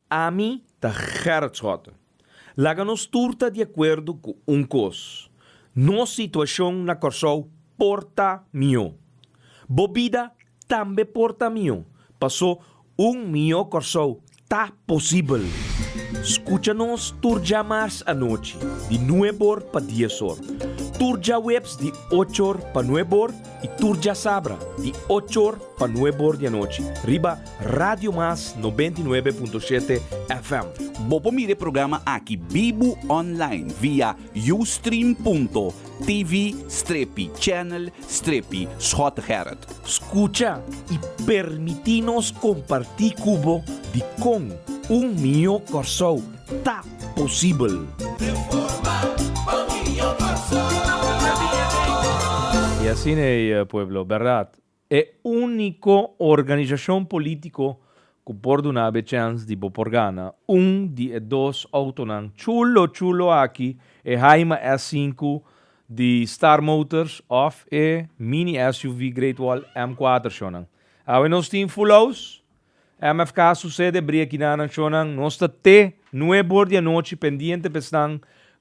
Ami ta Gerrit Schotten. Laga nos tur ta di akuerdo ku un kos, nos situashon na Kòrsou por ta mihó. Bo bida tambe por ta mihó, pasó un mihó Kòrsou ta posibel! Skucha nos tur dja mars anochi di nuebor pa diesor, tur djaweps di ochor pa nuebor, Y tur djasabra di ocho or pa nuebe or di anochi riba Radio Mas noventa y nuebe punto shete FM. Bo por mira e programa aki bibu online via ustream.tv strepi channel strepi Schotegerrit. Scucha y permiti nos comparti cu bo di con un mijo Corsou ta posibel. Y asina ey pueblo berdad e unico organisacion politico cu por dunabo e chens di bo por gana un di e dos autonan chulo chulo aki e Haima S sinku di Star Motors of e mini SUV Great Wall M cuater shonan. Awe nos tin full house. MFK susede bria kina nacionnan nos ta te nueb hor di anochi pendiente pa esnan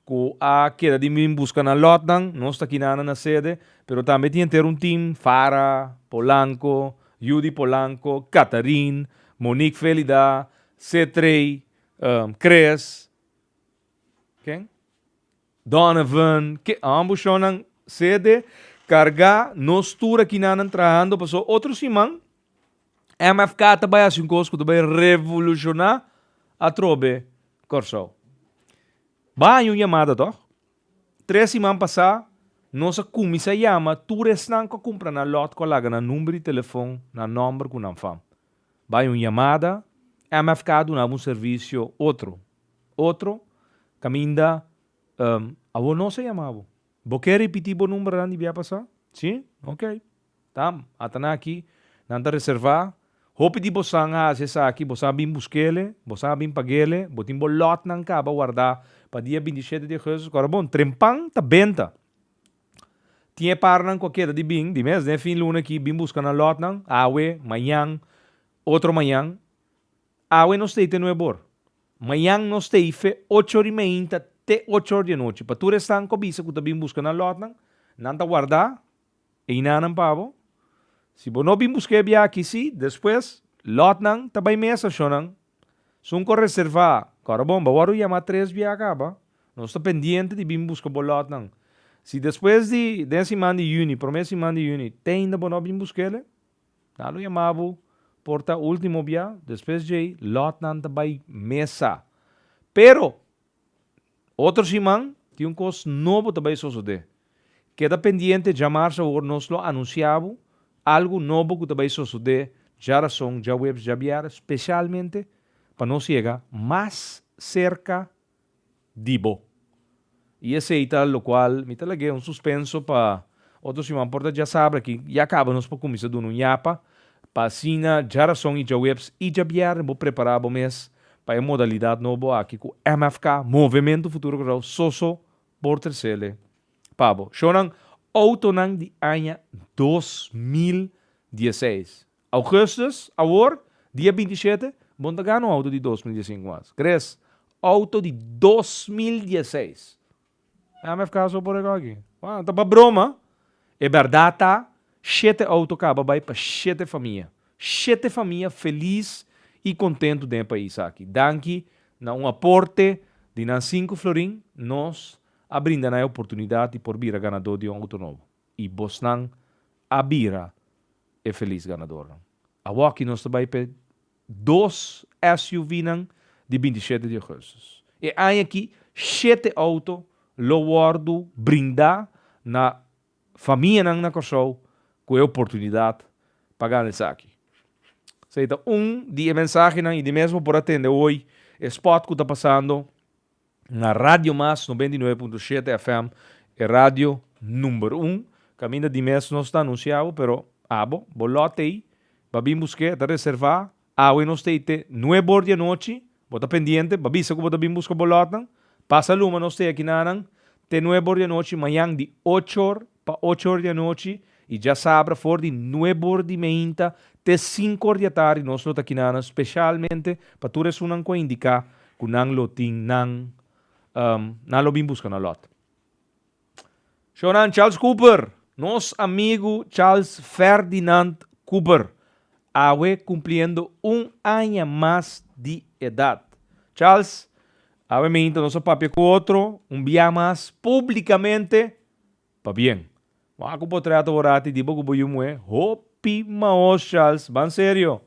cu a keda di bin busca nan lotnan, nos ta kina nan a sede, pero tambe tin henter un team, Fara, Polanco, Judy Polanco, Catharin, Monique Felida, Setrey, Chris, ken? Donovan, Ke ambushonnan CD kargá nos tur akinanan trahando paso otro siman MFK ta bai hasi un kos ku ta bai revolushoná atrobe Kòrsou. Bai un yamada tòg. Tres siman pasá nos a kuminsá yama tur esnan ku a kumpra nan lòt ku a laga nan number di telefon, nan nòmber ku nan fam. Bai un yamada, MFK a dunaba un servisio otro. Otro, Kaminda, Um, awor nos a yama bo. Bo ke ripití bo number nan di bia pasá? Sí? Ok. Ta, ata nan aki, nan ta reservá. Hopi di bosan a hasi esaki, bosan a bin busk'ele, bosan a bin pag'ele, bo tin bo lòtnan kaba wardá pa dia binti i shete di augustus. Kòrda bon, trempan ta benta. Tin e parnan cu a keda di bin, di mes den fin luna aki, bin busca nan lotnan, awe, mañan, otro mañan. Awe nos ta y te nuebe or. Mañan nos ta y fe ocho di mainta te ocho or di anochi. Pa tur esnan cu a bisa cu ta bin busca nan lotnan, nan ta warda e inanan pa bo. Si bo no bin busca e biaha aki, si, despues, lotnan ta bay mesa, shonan, Sunco reserva. Cora bon, bo worde yama tres bia aca ba. Nos ta pendiente di bin busca bo lotnan. Si despues di den siman di juni, prome siman di juni, teinda bo no bin busca el'e, nan lo yama bo por ta ultimo bia, despues dj'ey lotnan ta bay mesa. Pero! Otro siman tin un kos nobo ta bai sosodé. Keda pendiente djamarse awor nos lo anuncia bo algu nobo ku ta bai sosodé djarason djahuebs djabierès specialmente pa nos yega mas cerca di bo. Y esei ta locual mi ta lagué un suspenso pa Otro siman por ta djasabra aki, ya caba nos por cuminsa duna un yapa, pa asina djarason y djaweps y djabierna bo prepara bo mes pa e modalidad nobo aki cu MFK, Movemento Futuro K'Row, soso por tresele pa bo. Shownan Autonan di aña dos mil dieseis. Augustus, awor, dia binti shete, bo no ta gana un auto di dos mil diesinku mas. Gres, auto di dos mil dieseis! MF Caso bo por a gogi? Wou, ta pa broma? E berdad ta, shete auto caba bay pa shete famia. Shete famia feliz y contento den e pais aki. Danki na un aporte di nan sinku florin, nos a brinda nan e oportunidad di por bira ganador di un auto nobo. Y bosnan a bira e feliz ganadornan. Awor aki nos ta bay pa e dos SUVnan di binti shete di ogusus. E aña aki shete outo lo wordu brinda na famianan na Kòrsou ku e oportunidat pa gana esaki. Sa e ta un di e mensahenan i di mes bo por atende hoy e spot ku ta pasando. Na Radio Mas noventa i nuebe punto shete FM, e radio number un. Caminda di mes nos ta anuncia bo, pero abo, bo lot ey, ba bin busque, ta reserva. Awe nos tey te nuebe bor di anochi, bo ta pendiente, ba bisa cu bo ta bin busca bo lotnan. Pasa luma nos tey aki nanan te nuebe bor di anochi, mayan di ochor Pa ocho or di anochi i djasabra for di nueb or di meinta te sinku or di atardi nos lo ta kinana speshalmente pa tur esunnan ku a indiká ku nan lo tin nan nan lo bin buska na lòt. Shownan Charles Cooper, Nos amigu Charles Ferdinand Cooper awe kumpliendo un aña mas di edat. Charles, awe meinta nos a papia ku otro un biaha mas públikamente Pabien, wak ku bo trata worati di bo ku bo yu muhé hopi maos, Charles, ban serio.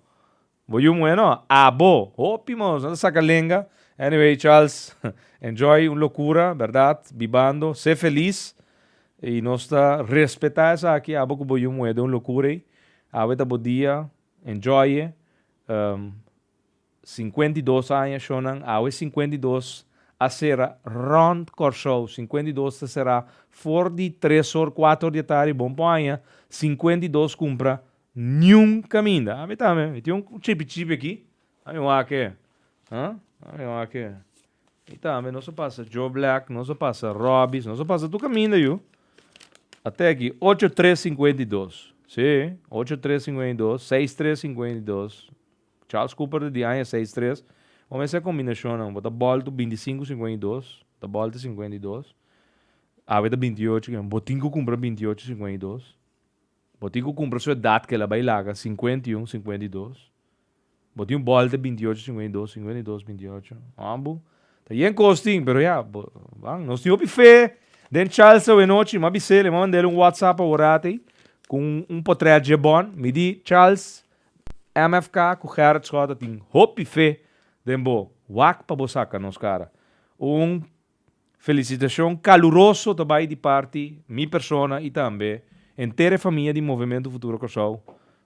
Bo yu muhé no, abo, hopi maos, no ta saka lenga. Anyway, Charles, enjoy un lokura, bèrdat, bibando, sé felis, i nos ta respetá esaki, abo ku bo yu muhé den un lokura ei. Awe ta bo dia, enjoy e. Sinkuenta i dos aña shonnan, awe sinkuenta i dos a sera rònt Kòrsou. Sinkuenta i dos ta será for di tres or, kuater or di atardi. Bon por aña sinkuenta i dos kumpra niun kaminda. Ami tambe, mi tin un chipi chipi aki. Ami wak e. Huh? Ami wak e. Mi tambe, nos a pasa Joe Black, nos a pasa Robbie, nos a pasa tur kaminda yu. A te aki, ocho tres sinkuenta i dos. Sí, ocho tres sinkuenta i dos, seis tres sinkuenta i dos. Charles Cooper ta di aña seis tres. Bo mester combinacionnan. Bo ta bal tu binti sinku singuen i dos. Ta bal ta singuen i dos. Awe ta binti ocho kilometer. Bo tin cu cumpra binti ocho singuen i dos. Bo tin cu cumpra su edad kela bay laga sincuenta i un sincuenta i dos. Bo tin un bal ta binti ocho singuen i dos, singuen i dos binti ocho. Mambo ta yen cos tin pero ya bo ban. Nos tin hopi fe den Charles awe nochi. M'a bisel e m'a mandel un whatsapp aworat ey cu un potret dje bon. Mi di Charles MFK ku Gerrit Schouten tin hopi fe den bo. Wak pa bo saka nos kara. Un felisitashon kaluroso ta bai di parti mi persona i tambe henter e famia di Movementu Futuro Kòrsou.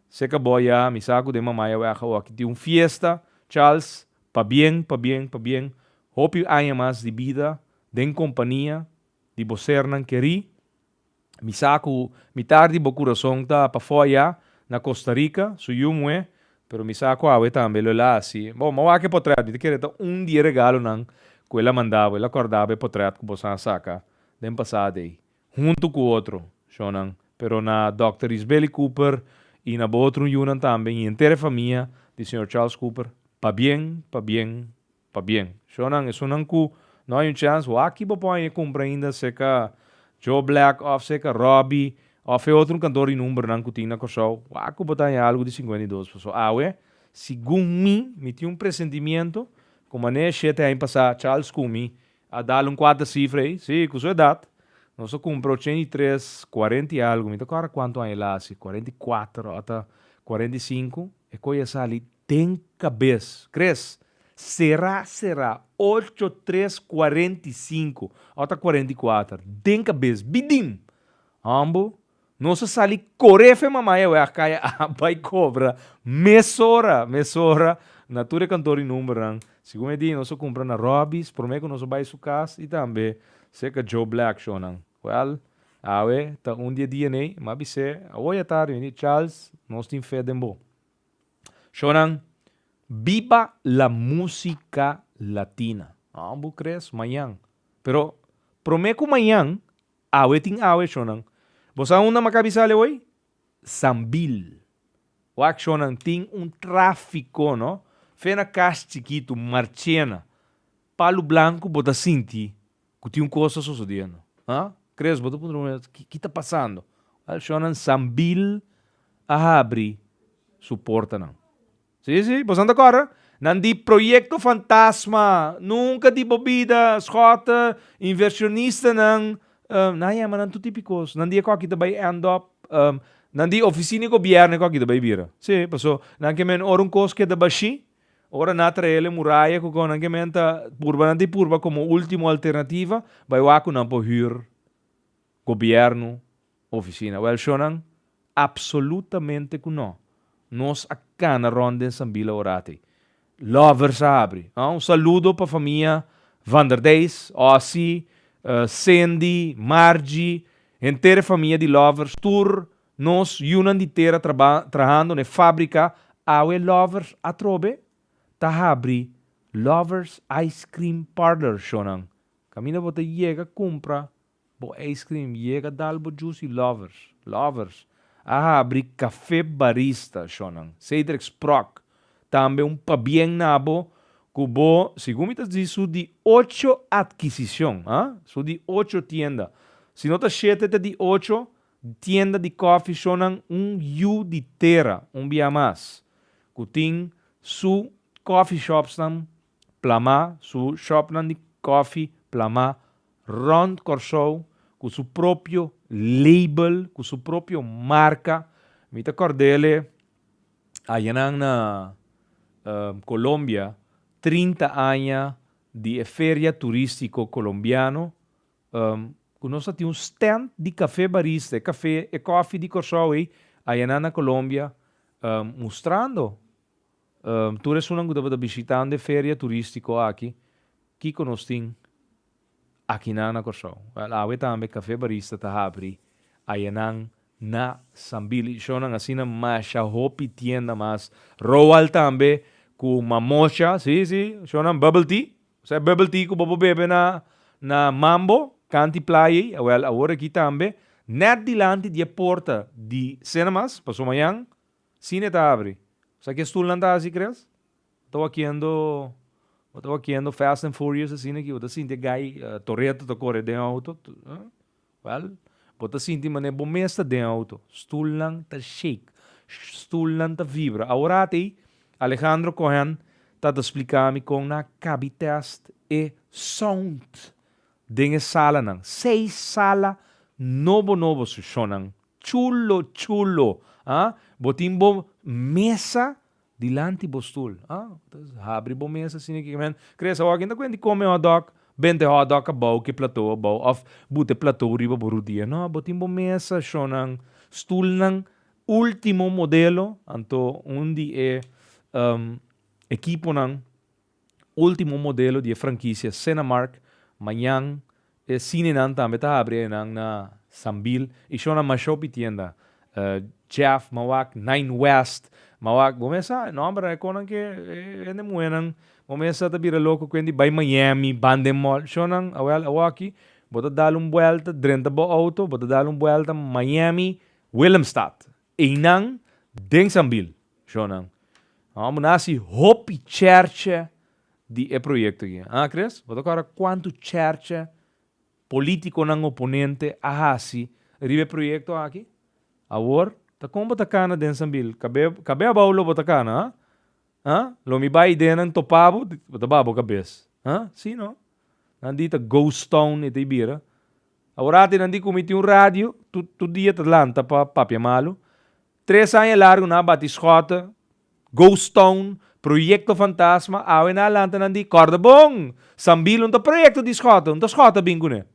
Seka bo ya, mi sa ku den Mamaya Wègha oki tin un fiesta, Charles, pa bien, pa bien, pa bien, hopi aña mas di bida den kompania di bo sernan kerí. Mi sa cu mitar di bo curason ta pafoya na Costa Rica, su yu mue, pero mi sa cu awe tambe lo el a haci. Bo, bo a wak e potret, mi ta kere ta un di e regalonan cu el a manda bo, el a cordaba e potret cu boso a saca den pasada ey, hunto cu otro shonan, pero na Dòkter Isbeli Cooper y na bo otro yunan tambe y henter e famia di Señor Charles Cooper, pabien, pabien, Pabien, shonan, esunnan ku no hay un chans, wak-y bo pon aye kumpra ainda seka Joe Black òf seka Robbie òf e otro kantor di numbernan ku tin na Kòrsou, wak ku bo ta haña algu di sinkuenta i dos. Pasobra awe, segun mi, mi tin un presentimiento ku mané e shete haña pasá, Charles Kumi a dal un kuater sifra ei. Sí, ku su edat, nos a kumpra ochenta i tres, kuarenta i algu, mi ta kòrda kuantu aña el a hasi, kuarenta i kuater òf ta kuarenta i sinku, E koe a sali den kabes. Kres, Sera, sera, ocho, tres, cuarenta y cinco, awa ta cuarenta y cuater, den kabes, bidin! Hombo, nos a sali kore fe mamaya we a kaya a bai kobra mesora, mesora na tur e kantor di numbernan. Segun e dia nos a kumpra na Robby's, prome ku nos a bai su kas i tambe serka Joe Black shonan. Well, awe ta un di e dia n'ey, m'a bis'é, awoy a tardi, mira Charles, nos tin fe den bo. Shownan, Biba la música latina! Aww, bo crees? Mañan. Pero, promé cu mañan, awe tin awe, shownan. Bo sa unda m'a ka bisa ale woy? Sambil. Wak, shownan, tin un tráfico, no? Fe na cas chikitu, Marchena, Palu Blanku, bo ta sinti. Ku tin un kos ta sosodiendo. Ha? Kres bo ta puntra bo mes, ki ta pasando? Wèl, shònan Sambil a habri su portanan. Sí, sí, boso ta kòrda? Nan di Proyekto Fantasma, nunka di bo bida, Schott, invershonistanan, nan a yama nan tur tipi kos. Nan di e kòki ta bai end up, nan di ofisina di gobièrnu e kòki ta bai bira. Sí, paso nan ke men ora un kos keda bashí, Ora nan a trae'l e muraya ku kònde nan ke men ta purba, nan di purba komo último alternativa bai wak ku nan por hür gobièrnu ofisina. Wèl shonnan, apsolutamente ku nò. Nos a kana rònt den Sambila ora te. Lovers a habri. Aa un saludo pa famia Van der Deijs, Ossie, Sendy, Margie, henter e famia di Lovers tur Nos yunan di tera trahando n'e fábrika awe Lovers atrobe ta habri Lovers Ice Cream Parlor shownan. Kaminda bo ta yega kumpra bo ijskrim yega dal bo jus i Lovers. Lovers a habri Kafé Barista shownan. Cedric Sprock tambe un pabien na bo ku bo, segun mi ta di su di ocho adkisishon, ha? Su di ocho tienda. Si no ta shete te di ocho Tienda di coffee shownan un yu di tera un bia mas cu tin su coffee shopsnan plamá, su shopnan di coffee plamá rond Corsou cu su propio label, cu su propio marca. Mi ta cordele ayanan na Colombia trinta aña di e feria turistico colombiano ku nos ta tin un stènt di kafé barista, e kafé, e kòfi di Kòrsou ei, ayanan na Kolombia, mustrando tur esunnan ku tabata bishitando e feria turístiko aki, kiko nos tin akinan na Kòrsou. Wèl, awe tambe Kafé Barista ta habri ayanan na Sambil. I shonnan asina masha hopi tienda mas. Roald tambe ku Mamocha, sí, sí, shonnan Bubble Tea. Sa e bubble tea ku bo por bebe na na Mambo, kant di playa ei? Awèl, awor aki tambe, nèt dilanti di e porta di Cinemas, paso mañan, sine ta abri. Sa ke stulnan ta hasi, Chris? Bo ta wakiendo, bo ta wakiendo Fast and Furious asina aki, bo ta sinti e gai, Toretto ta kore den e outo, eh? Wèl, bo ta sinti manera bo mes ta den outo. Stulnan ta shake. Stulnan ta vibra. Awor ate, Alejandro Cohen ta ta spliká mi kon nan a kabi tèst e sound den e salanan. Seis sala nobo nobo su shownan chulo chulo. Bo tin bo mesa Dilanti bo stul. Ah, ta habri bo mesa si niki kimen. Kres, awor ken ta kuente kome hotdog? Bente hotdog kabou ke platou abou of bute platou riba bo rudia. No, bo tin bo mesa, shonnan. Stulnan ultimo modelo. Anto un di e ekiponan. último modelo di e frankisia Cinemark, mañan e sinenan tambe ta habri enan na Sambil, Ishona Mashopi tienda, Jeff Mawak, Nine West Mawak, bo mesa e nòmber nan e konan ke e hende muhénan bo mesa ta bira loko kuen di bai Miami, Bande Mall, shonan awèl awoki bo ta dal un buèlta drenta bo outo bo ta dal un buèlta Miami, Willemstad, Einan den Sambil, Jonan. Amo na hasi hopi cherche di e proyecto aki. Ha Chris? Bo ta kora kuantu cherche politiconan oponente a hasi riba e proyecto aki? Awor ta kon bo ta cana den Sambil? Cabé, cabé abao lo bo ta cana, ha? Ha? Lo mi bai idea nan topa bo, bo ta ba bo cabes. Ha? Si no? Nan di ta ghost town e ta bira. Awor ate nan di cu mi tin un radio, tur tur dia ta lanta pa papia malo. Tres aña largo nan a bati schota, ghost town, proyecto fantasma, awe nan a lanta nan di corda bon! Sambilo no ta proyecto di schota, no ta schota a bin cune.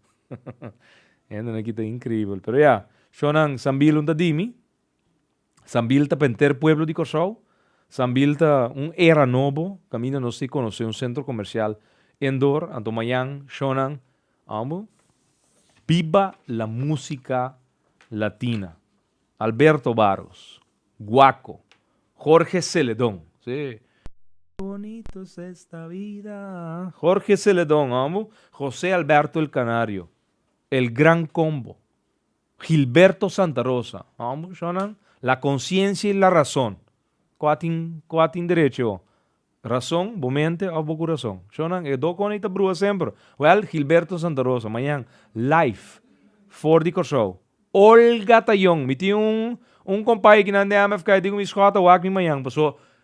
Hendenan aki ta increibel. Pero ya, shonan, Sambilo no ta di mi. Sambil ta pa henter pueblo di Kòrsou. Sambil ta un era nobo kaminda nos tin konosé un sentro komersial en dor. Anto mañan shònan ambu. Biba la músika latina. Alberto Barros, Guaco, Jorge Celedon, sí. Qué bonito es esta vida, Jorge Celedon ambu. José Alberto El Canario, El Gran Combo, Gilberto Santa Rosa, Homo shonnan, la conciencia y la razon. Cu a tin, cu a tin derecho? Razon, bo mente of bo curason? Shonnan, e do cona y ta brua semper. Well, Gilberto Santa Rosa, mañan, live, for di Corsou, Olga Tayon. Mi tin un, un compay aki na Andeamfk, e dico mi, Scott, a wak mi mañan, paso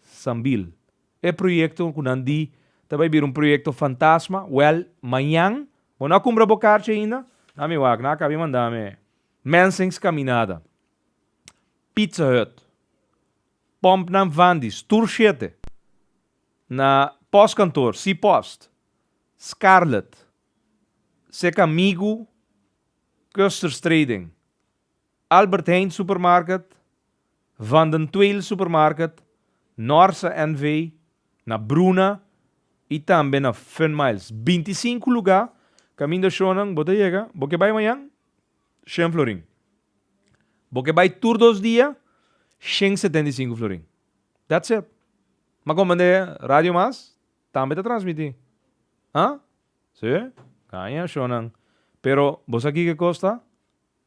Sambil. E proyekto ku nan di ta bai bira un proyekto fantasma, wèl, mañan bo no a kumbra bo karchi ainda? Ta mi wak, nan a kab'é manda mi Mensings Kaminada, Pizza Hut, Pomp nan Vandis, tur shete, na Postkantoor, Sea Post, Scarlet, Seka Migu, Custer's Trading. Albert Heijn Supermarket, Van den Tweele Supermarket, Norsa NV, na Bruna i tambe na Funmiles. Binti i sinku lugá kaminda shownan bo ta yega. Bo ke bai mañan? Shen florin. Bo ke bai tur dos dia? Shen setenta i sinku florin. That's it. Ma kon band'é Radio Mas tambe ta transmití? Huh? Sí. Kaña shownan. Pero bo sa kiko e kos ta?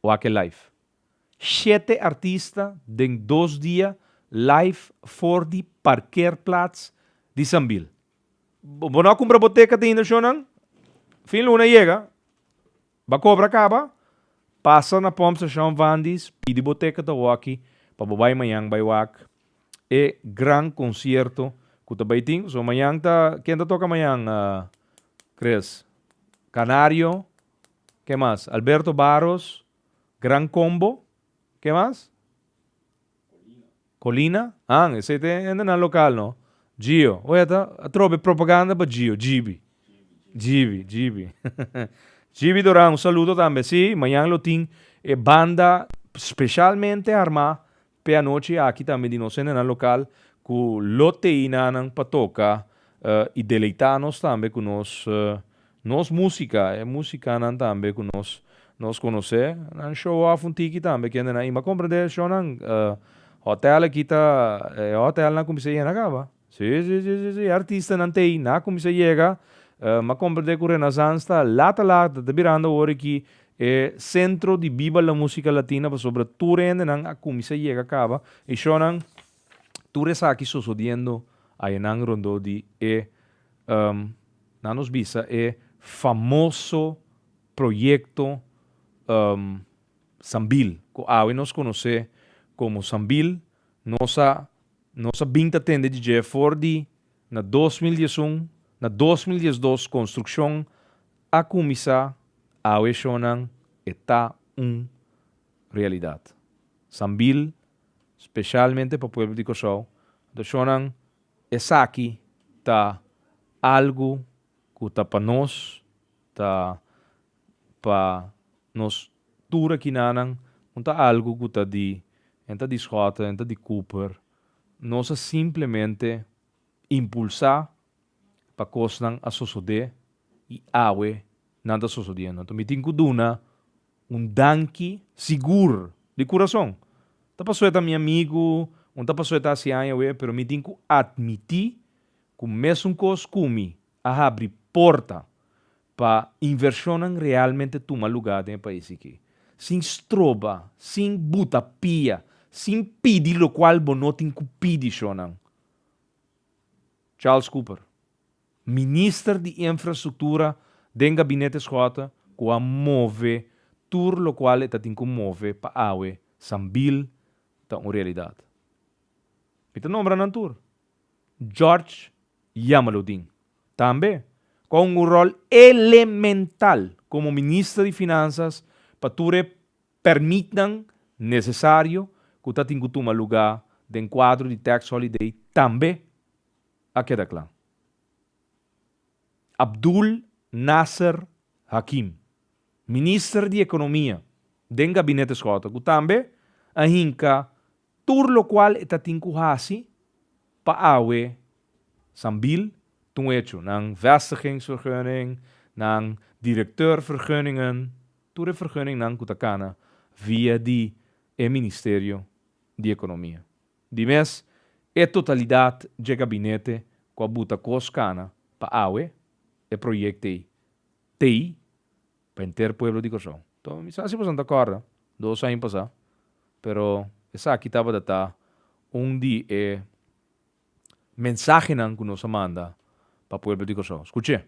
Wak-e live. Shete artista den dos dia live for di parkeerplaats di Sambil. Bo no a kumpra bo teket ainda shownan? Fin luna yega, b'a kobra kaba? Pasa na Pump Station Vandy's, pidi bo teket awoki pa bo bai mañan bai wak e gran concierto cu ta bai tin. So mañan ta, ken ta toca mañan Chris? Canario, Ke mas? Alberto Barros, Gran Combo, ke mas? Colina. An, esei ta hende nan local no. Gio, oja ta a trobe propaganda pa Gio, Gibi. Gibi, Gibi. Gibi Doran un saludo tambe. Si, mañan lo tin e banda specialmente arma P'e anochi aki tambe di nos hendenan lokal ku lo tei nannan pa toka i deleitá nos tambe ku nos nos músika, e músikanan tambe ku nos nos konosé. Nan show òf un tiki tambe ki hendenan ima komprendé shownan. Hòtèl aki ta e hòtèlnan kuminsá yena kaba. Si si si si si artistanan ta ei, nan a kuminsá yega, m'a komprendé ku Renasans ta lata lata ta birando awor aki e sentro di biba la músika latina pasobra tur e hendenan a kuminsá yega kaba e shownan tur esaki sosodiendo ayanan rondó di e nan nos bisa e famoso proyekto Sambil ku awe nos konosé komo Sambil nos a Nos a bin ta tende dje for di na dos mil dies un, na dos mil dies dos construccion a cuminsa awe e shonan e ta un realidad. Sambil specialmente pa pueblo di Cosao anto shonan esaki ta algo cu ta pa nos ta pa nos tur akinanan un ta algu ku ta di en ta di Schotten en ta di Cooper nos a simplemente impulsá pa kosnan a sosodé i awe nan ta sosodiendo anto mi tin ku duna un danki sigur di kurason ta pasó e ta mi amigu un ta pasó e ta hasi aña awe pero mi tin ku atmití ku mesun kos ku mi a habri porta pa invershonnan realmente tuma lugá den e pais ikí, sin stroba, sin buta pia, sin pidi lokual bo no tin ku pidi shonnan. Charles Cooper, minister di Enfrastruktura den gabinete Schotte ku a move tur lokual e ta tin ku move pa awe Sambil ta un realidat. Mi ta nombra nan tur. George Yamaludin, tambe kua un rol elemental komo minister di Finansas pa tur e permitnan nesesario ku ta tin ku tuma lugá den kuadro di tax holiday tambe a keda kla. Abdul Nasser Hakim, minister di Ekonomia den Gabinete Schotten ku tambe a hinka Tur locual e ta tin cu haci pa awe Sambil tun hecho, nan vestigingsvergunning, nan directeurvergunningen, tur e vergunningnan cu ta cana via di e Ministerio di Economia. Di mes e totalidad dje gabinete cu a buta cos cana pa awe e projectei tei pa henter pueblo di Kòrsou. Tò, mi sa si boso no ta kòrda, dos aña pasá, pero esaki tabata ta un di e mensahenan ku nos a manda pa pueblo di Kòrsou. Skuch'é!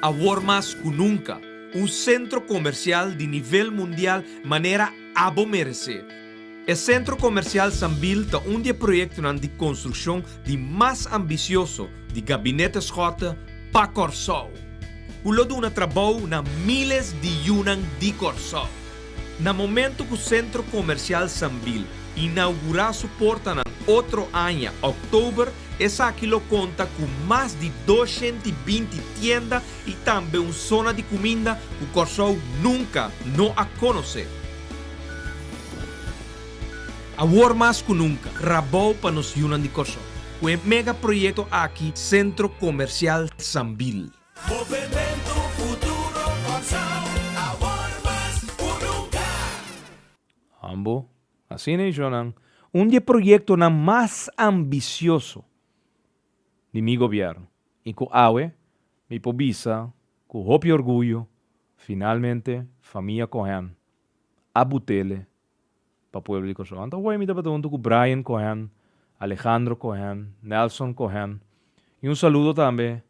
Awor mas ku nunka, un sentro komersial di nivel mundial manera abo meresé. E Sentro Komersial Sambil ta un di e proyektonan di konstrukshon di mas ambisioso di Gabinete Schotte pa Kòrsou, ku lo duna trabou na míles di yunan di Kòrsou. Na momentu ku Sentro Komersial Sambil inaugurá su portanan otro aña, òktober, Esaki lo konta ku mas di doshent i binti tienda i tambe un sona di kuminda ku Kòrsou nunka no a konosé. Awor mas ku nunka, rabou pa nos yunan di Kòrsou ku e mega proyekto aki Sentro Komersial Sambil. Movementu Futuro Kòrsou, awor mas ku nunka! Ambo Asina i shonnan un di e proyektonan mas ambisioso di mi gobièrnu i ku awe mi por bisa ku hopi orguyo finalmente famia Cohen a but'ele pa pueblo di Kòrsou. Anto hopi mi tabata huntu ku Brian Cohen, Alejandro Cohen, Nelson Cohen i un saludo tambe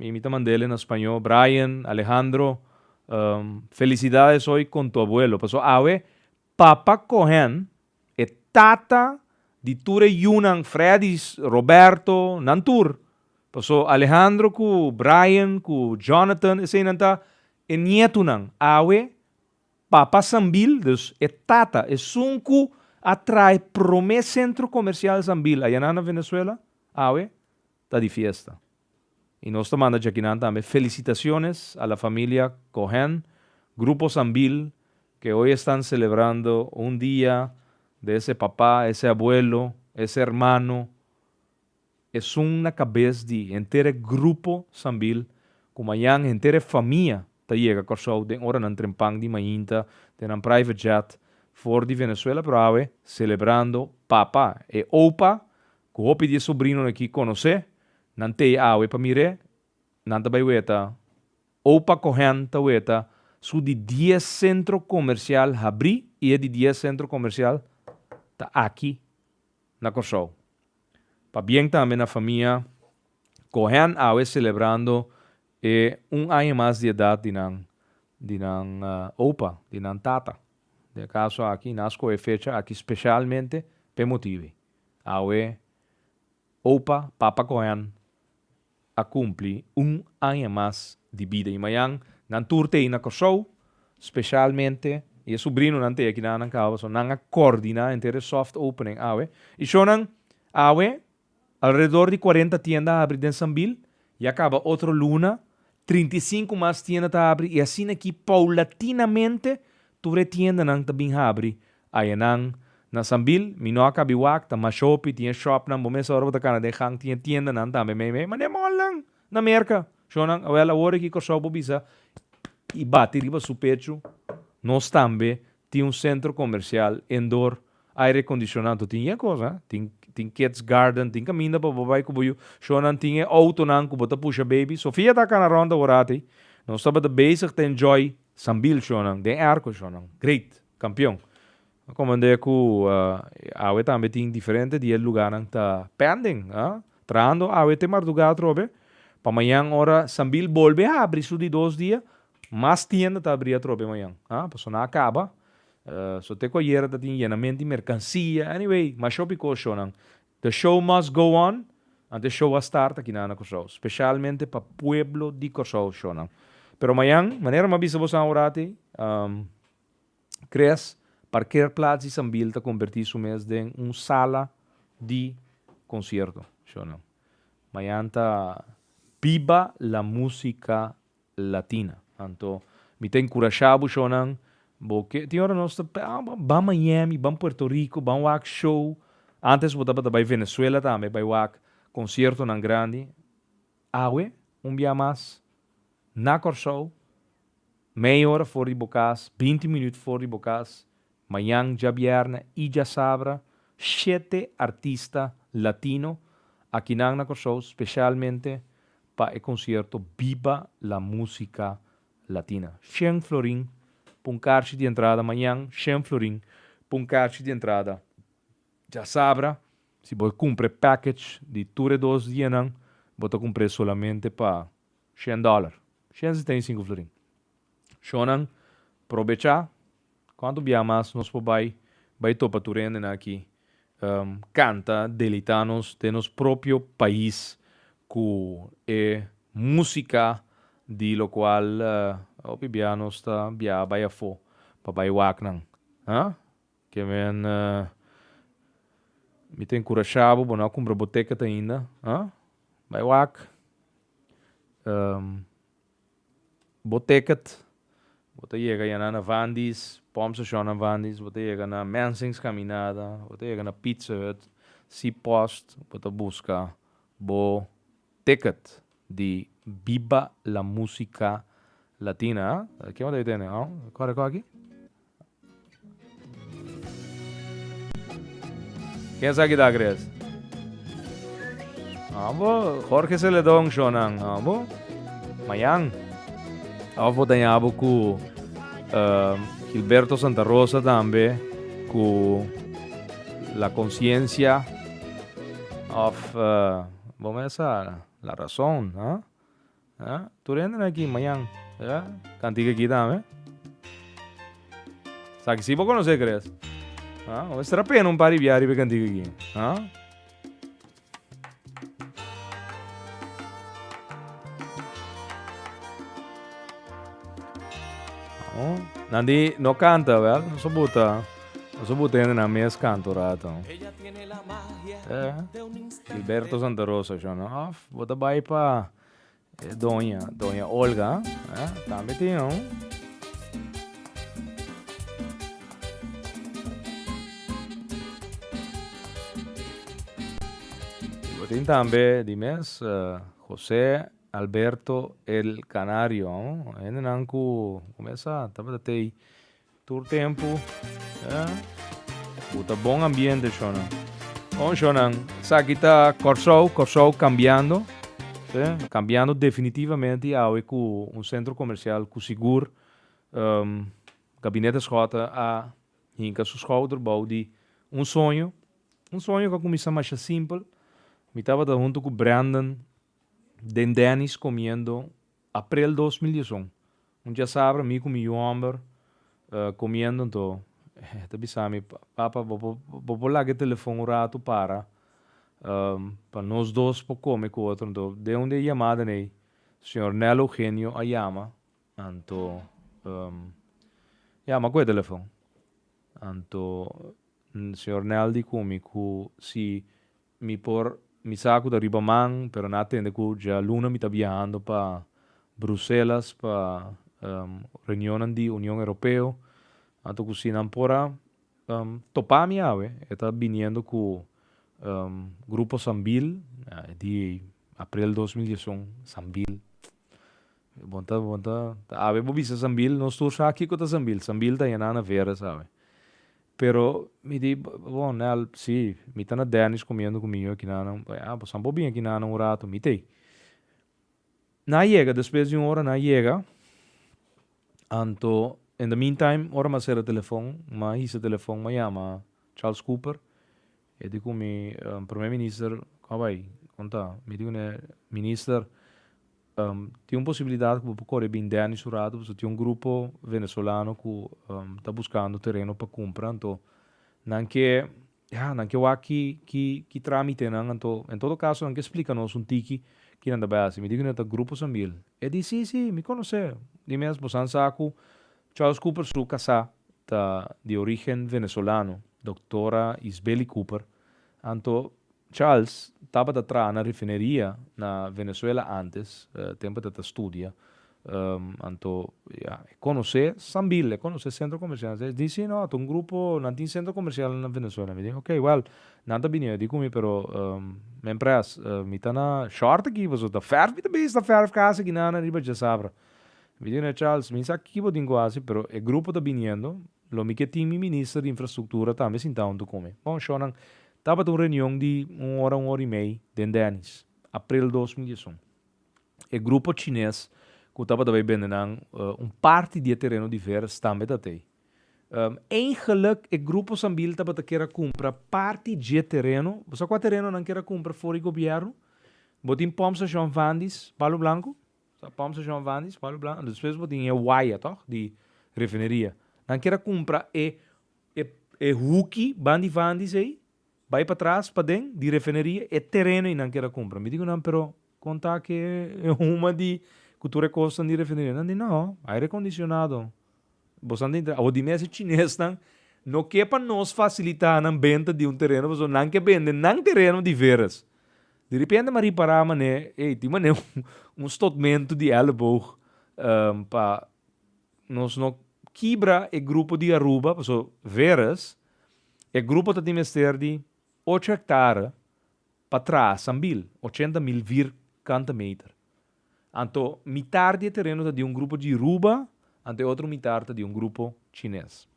i mi ta mand'ele na spañó, Brian, Alejandro, felicidades hoy con tu abuelo paso awe Papa Cohen, e tata di tur e yunan Freddy, Roberto, nan tur. Paso Alejandro cu Brian cu Jonathan eseinan ta e nietunan. Awe Papa Sambil, dus e tata, esun cu a trae prome centro comercial Sambil ayanan na Venezuela, awe ta di fiesta y nos ta manda djakinan tambe felicitaciones a la familia Cohen, Grupo Sambil, que hoy estan celebrando un dia de ese papa, ese abuelo, ese hermano, esun na cabez di henter e Grupo Sambil cu mayan henter e famia ta yega Corsou den ora nan trempan di mainta den nan private jet for di Venezuela pero awe celebrando papa, e opa Ku hopi di e sobrinonan ki konos'é, nan tei awe pa mir'é, nan ta bai weta. Opa Cohen ta weta su di dies sentro komersial habrí i e di dies sentro komersial ta aki na Kòrsou. Pabien tambe na famia Cohen awe selebrando e un aña mas di edat di nan di nan opa, di nan tata. Den e kaso aki nan skohe e fecha aki speshalmente pa e motibu ei. Awe opa Papa Koyan a kumpli un aña mas di bida i mañan nan tur ta ei na Kòrsou, spesialmente i e subrinonan ta ei aki na Anankabou, so nan a kordiná henter e soft opening awe. I shownan awe alredor di cuarenta tienda a abri den Sambil, ya kaba otro luna trinta i sinku mas tienda ta abri i asin'akí poulatinamente tur e tiendanan ta bin habri Ayenan, na Sambil, mi no a kabi wak, ta mas shopi, tin e shopnan, bo mes ora bo ta kana den gang, tin e tiendanan tambe meimei, mane mòlnan na Merka. Shonnan, awèl awor aki Kòrsou bo bisa i bati riba su pechu, nos tambe tin un sentro komersial endor, aire kondishoná, anto tin e kos, a, tin tin kids garden, tin kaminda pa bo bai ku bo yu, shonnan tin e outonan ku bo ta pusha baby. Sofia ta kana rònt awor ati, nos tabata bezig ta enjoy Sambil shonnan, den airco shonnan, great! Campeon. A comandé cu awe tambe tin diferente diez lugarnan ta pending. Trahando awe te marduga atrobe. Pa mañan ora Sambil bolbe habri su di dos dia, mas tienda ta abri atrobe mañan. Pasobra nan a caba. So te cu ayer a ta tin yenament di mercancia. Anyway, masho bico shownan. The show must go on. Ante show a start aki na Curaçao. Specialmente pa pueblo di Curaçao shownan. Pero mañan, manera mi a bisa bo san ora te, Tres parkeerplats di Sambil ta kombertí su mes den un sala di konsierto, si o no? Mañan ta Biba la Música Latina. Anto mi ta enkurashá bo shònan, bo ke, tin ora nos ta pèa, ban Miami, ban Puerto Rico, ban wak show, antes bo tabata bai Venezuela tambe bai wak konsiertonan grandi. Awe, un bia mas, na Kòrsou, meia ora for di bo kas, binti minüt for di bo kas, mañan djabièrnè i djasabra, shete artista latino akinan na Kòrsou speshalmente pa e konsierto Biba la Música Latina. Shen florin pa un karchi di entrada mañan, shen florin pa un karchi di entrada Djasabra, si bo cumpra e package di tur e dos dianan, bo ta cumpr'e solamente pa shen dollar, shen sesta i sinku florin. Shonan, probecha, cuantu biaha mas nos por bai, bai topa tur hendenan aki, canta, deleita nos den nos propio pais cu e musica di locual hopi biaha nos ta biaha bai afo pa bai wak nan. Ke men mi ta enkurashá bo, bo no a kumpra bo teket ainda, ha? Bai wak bo teket, bo ta yega ya na na Van Dies, Pump Station na Van Dies, bo ta yega na Mensing's Caminada, bo ta yega na Pizza Hut, Seapost, bo ta buska bo Ticket di Biba la Musica Latina. Ken bo ta bita ene? Aw, kore ko aki? Ken sa kita akere es? Aw bo, Jorge Celedon show nan. Aw bo, mayan. Of bo ta yabo ku Gilberto Santa Rosa tambe ku La Conciencia of. Bo mes sa la rason, ha? Ha? Tur hende na aki mañan, ha? Kantiga aki tambe. Sa ki si bo konosé Kres, ha? Bo mester a pena un par di biaha riba e kantiga aki, ha? Nandi no kanta, wèl, no soporta. Paso bo tende na mes kanto rato. Eh, Gilberto Santa Rosa shon. Of bo ta bai pa eh, doña, doña Olga. Eh, tambe tin un. Y bo tin tambe di mes eh, Jose Alberto El Canario. Hendenan cu, cu mesa tabata tey Tur tempu bo ta bon ambiente shona. Bon shona, esaki ta Kòrsou, Kòrsou kambiando, si, kambiando definitivamente i awe ku un sentro komersial ku sigur Gabinete Schotten a hinka su schouder bou di un soño, un soño ku a kuminsá masha simpel. Mi tabata huntu ku Brandon den Denny's komiendo. Aprel dos mil dies un, un chasabra mi ku mi yu hòmber komiendo anto e ta bisa mi, Papa, bo por bo por laga e telefòn un ratu para pa nos dos por kome ku otro? Anto den un di e yamadan ei señor Nel Eugenio a yama, anto ya m'akohe telefòn, anto señor Nel di ku mi ku si Mi por mi sa cu ta riba man, pero nan a tende cu djaluna mi ta biahando pa Bruselas pa reunionnan di Union Europeo. Anto cu si nan por a topa mi awe, e ta biniendo cu Grupo Sambil, di aprel dos mil diesun, Sambil. Bon ta bon ta ta awe bo bisa Sambil nos tur sa kiko ta Sambil Sambil ta yena na Vera sabe pero mi di bon Nel si mi ta na Dennis comiendo cu mi aki na nan a bo sampo bin aki na nan un rato mi t'ei nan yega despues di un ora nan yega anto in the meantime ora m'a cera telefon m'a hisa telefon m'a yama Charles Cooper. E di cu mi Primer Minister a bay conta. Mi di cune, Minister, tin un posibilidad cu bo por core bin Dennis un rato pasobra tin un grupo Venezolano cu ta buscando tereno pa cumpra. Anto nan ke, ya, nan ke wak ki, ki, ki tramitenan. Anto, en todo caso nan ke splica nos un tiki ki nan ta bay haci. Mi di cune, Ta Grupo Sambil. E di, Si, si, mi conoce. Di mes, bo san sa cu Charles Cooper su casá ta di origen Venezolano, Doctora Isbeli Cooper, anto Charles tabata traha na refineria na Venezuela antes, tempo e ta ta studia, anto ya e conoce Sambil, e conoce centro comercial, e di si no ta un grupo, nan tin centro comercial na Venezuela, mi di ok well nan ta bini odi cu mi pero men pres mi ta na short aki pasobra ta ferf mi ta bisa ta ferf casa aki nan riba djasabra. Virginia Charles, Mi sa kiko bo tin ku hasi, pero e grupo ta biniendo, lo mi ke tin mi minister di infrastruktura tambe sinta huntu ku mi. Bon, shornan tabata un reunion di un ora, un ora i mei den Denny's, april dos mil diesun. E grupo chines ku tabata bai bende nan un parti di e tereno di Veres tambe tatei. Eén geluk e grupo Sambil tabata kera kumpra parti dje tereno. Bo sa kua tereno nan kera kumpra for di gobièrnu? Bo tin pòmpstashon Vandy's, Palo Blanku? Sa pump station van di Spalu Blanco anto despues bo tin e waya toch di refineria nan kier a cumpra e e huki ban di van di esey bay pa tras paden di refineria e tereno y nan kier a cumpra mi di cu nan pero con ta ki e huma di cu tur e cosnan di refineria nan di no aire condicionado. Bosan ta intra awo di mes e chinesnan no ke pa nos fasilita nan benta di un tereno pasobra nan ke bende nan tereno di veras. Di repente mi a ripara mane ey tin mane un stotmento di elleboog pa nos no kibra e grupo di Aruba pasobra veras e grupo ta tin mester di ocho hektara pa traha sambil ochenta mil vir kanta meter. Anto mitar di e tereno ta di un grupo Jiruba, anto e otro mitar ta di un grupo Chines.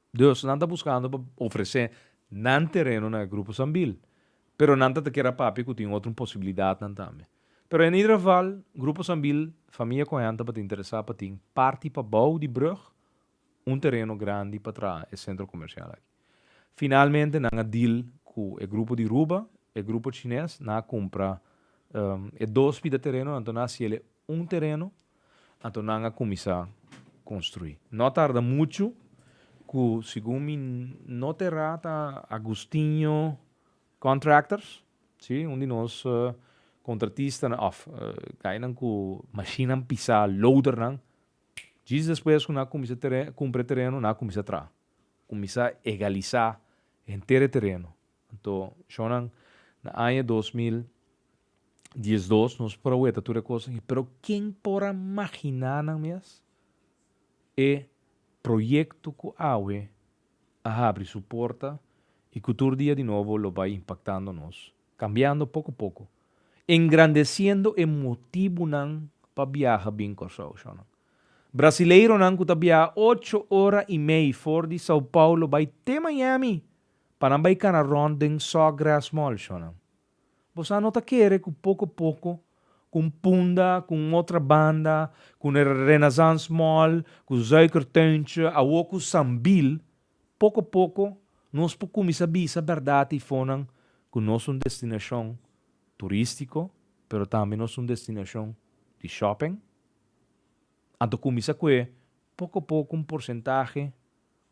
Dus nan ta buskando pa ofresé nan tereno na e grupo Sambil, pero nan ta ta kier a papia ku tin otro un posibilidatnan tambe. Pero en ieder geval, grupo Sambil, famia Cohen ta ba ta interesá pa tin parti pabou di brug, un tereno grandi pa traha e sentro komersial aki. Finalmente nan a deal ku e grupo di Ruba, e grupo chines, nan a kumpra e dos pida terenonan, anto nan a siel e un tereno, anto nan a kuminsá konstruí. No a tarda muchu ku segun mi no ta erá ta Agustinho Contractors, sí, un di nos kontratistanan, òf, gainan ku mashinnan pisá, loadernan, Djis despues cu na cuminsa teren, cumpra e tereno, na cuminsa traha. Cuminsa egalisa henter e tereno. Anto, Shonan, na aña dos mil diesdos nos por a weta tur e cosnan aki, pero ken por a magina nan mes e proyecto cu awe a habri su porta y cu tur dia di nobo lo bay impactando nos Cambiando poco poco. Engrandeciendo e motibunan pa biaha bin Corsou, Shownan. Brasileironan cu ta biaha ocho ora y mei for di Sao Paulo bay te Miami pa nan bay cana rond den Sawgrass Mall, Shownan. Bo sa no ta kere cu poco poco, cu un punda, cu un otra banda, cu Renaissance Mall, cu Suikertuintje, awo cu Sambil, Poko poko nos por kuminsá bisa bèrdat eifonnan ku nos un destinashon turístiko pero tambe nos un destinashon di shòping. Anto kuminsá ku e poko poko un porsentahe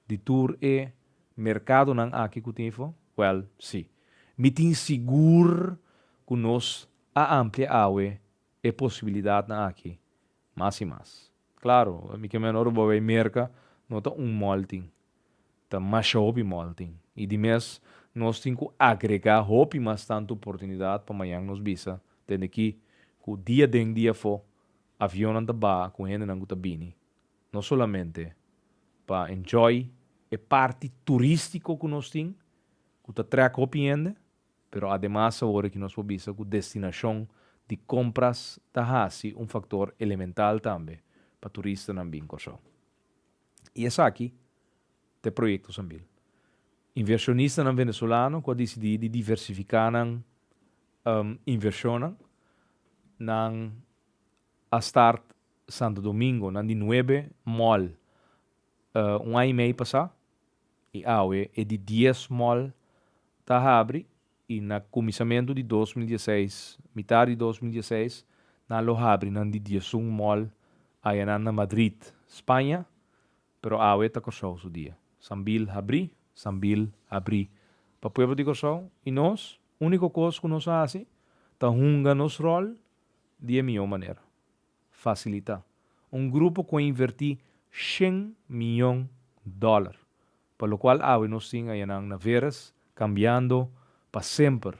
di tur e merkadonan aki ku tin eifonan? Wèl, sí. Mi tin sigur ku nos a amplia awe e posibilidatnan aki Mas i mas. Claro, mi ke meno ora bo a bay Merca, no ta un mall tin. Ta masha hopi mall tin. I di mes nos tin cu agrega hopi mas tanto oportunidad pa mañan nos bisa den aki cu dia den dia afo avionnan ta baha cu hendenan cu ta bini no solamente pa enjoy e parti turistico cu nos tin cu ta trek hopi hende, Pero ademas awor ki nos por bisa ku destinashon di kompras ta hasi un faktor elemental tambe pa turistanan bin Kòrsou. I esaki ta e proyekto Sambil. Invershonistanan venezolano ku a disidí di diversifiká nan invershonnan, nan a start Santo Domingo nan di nuebe mòl un aña i mei pasá. I awe e di dies mall ta habri i na kuminsamentu di dos mil dieseis, mitar di dos mil dieseis, nan lo habri nan di diesun mall ayanan na Madrid, Spaña, pero awe ta Kòrsou su dia. Sambil habri, sambil habri. Pa pueblo di Kòrsou i nos, úniko kos ku nos a hasi ta hunga nos ròl di e mihó manera. fasilitá un grupo ku a invertí shen mion dòler pa lokual awe nos tin ayanan na Veres kambiando pa semper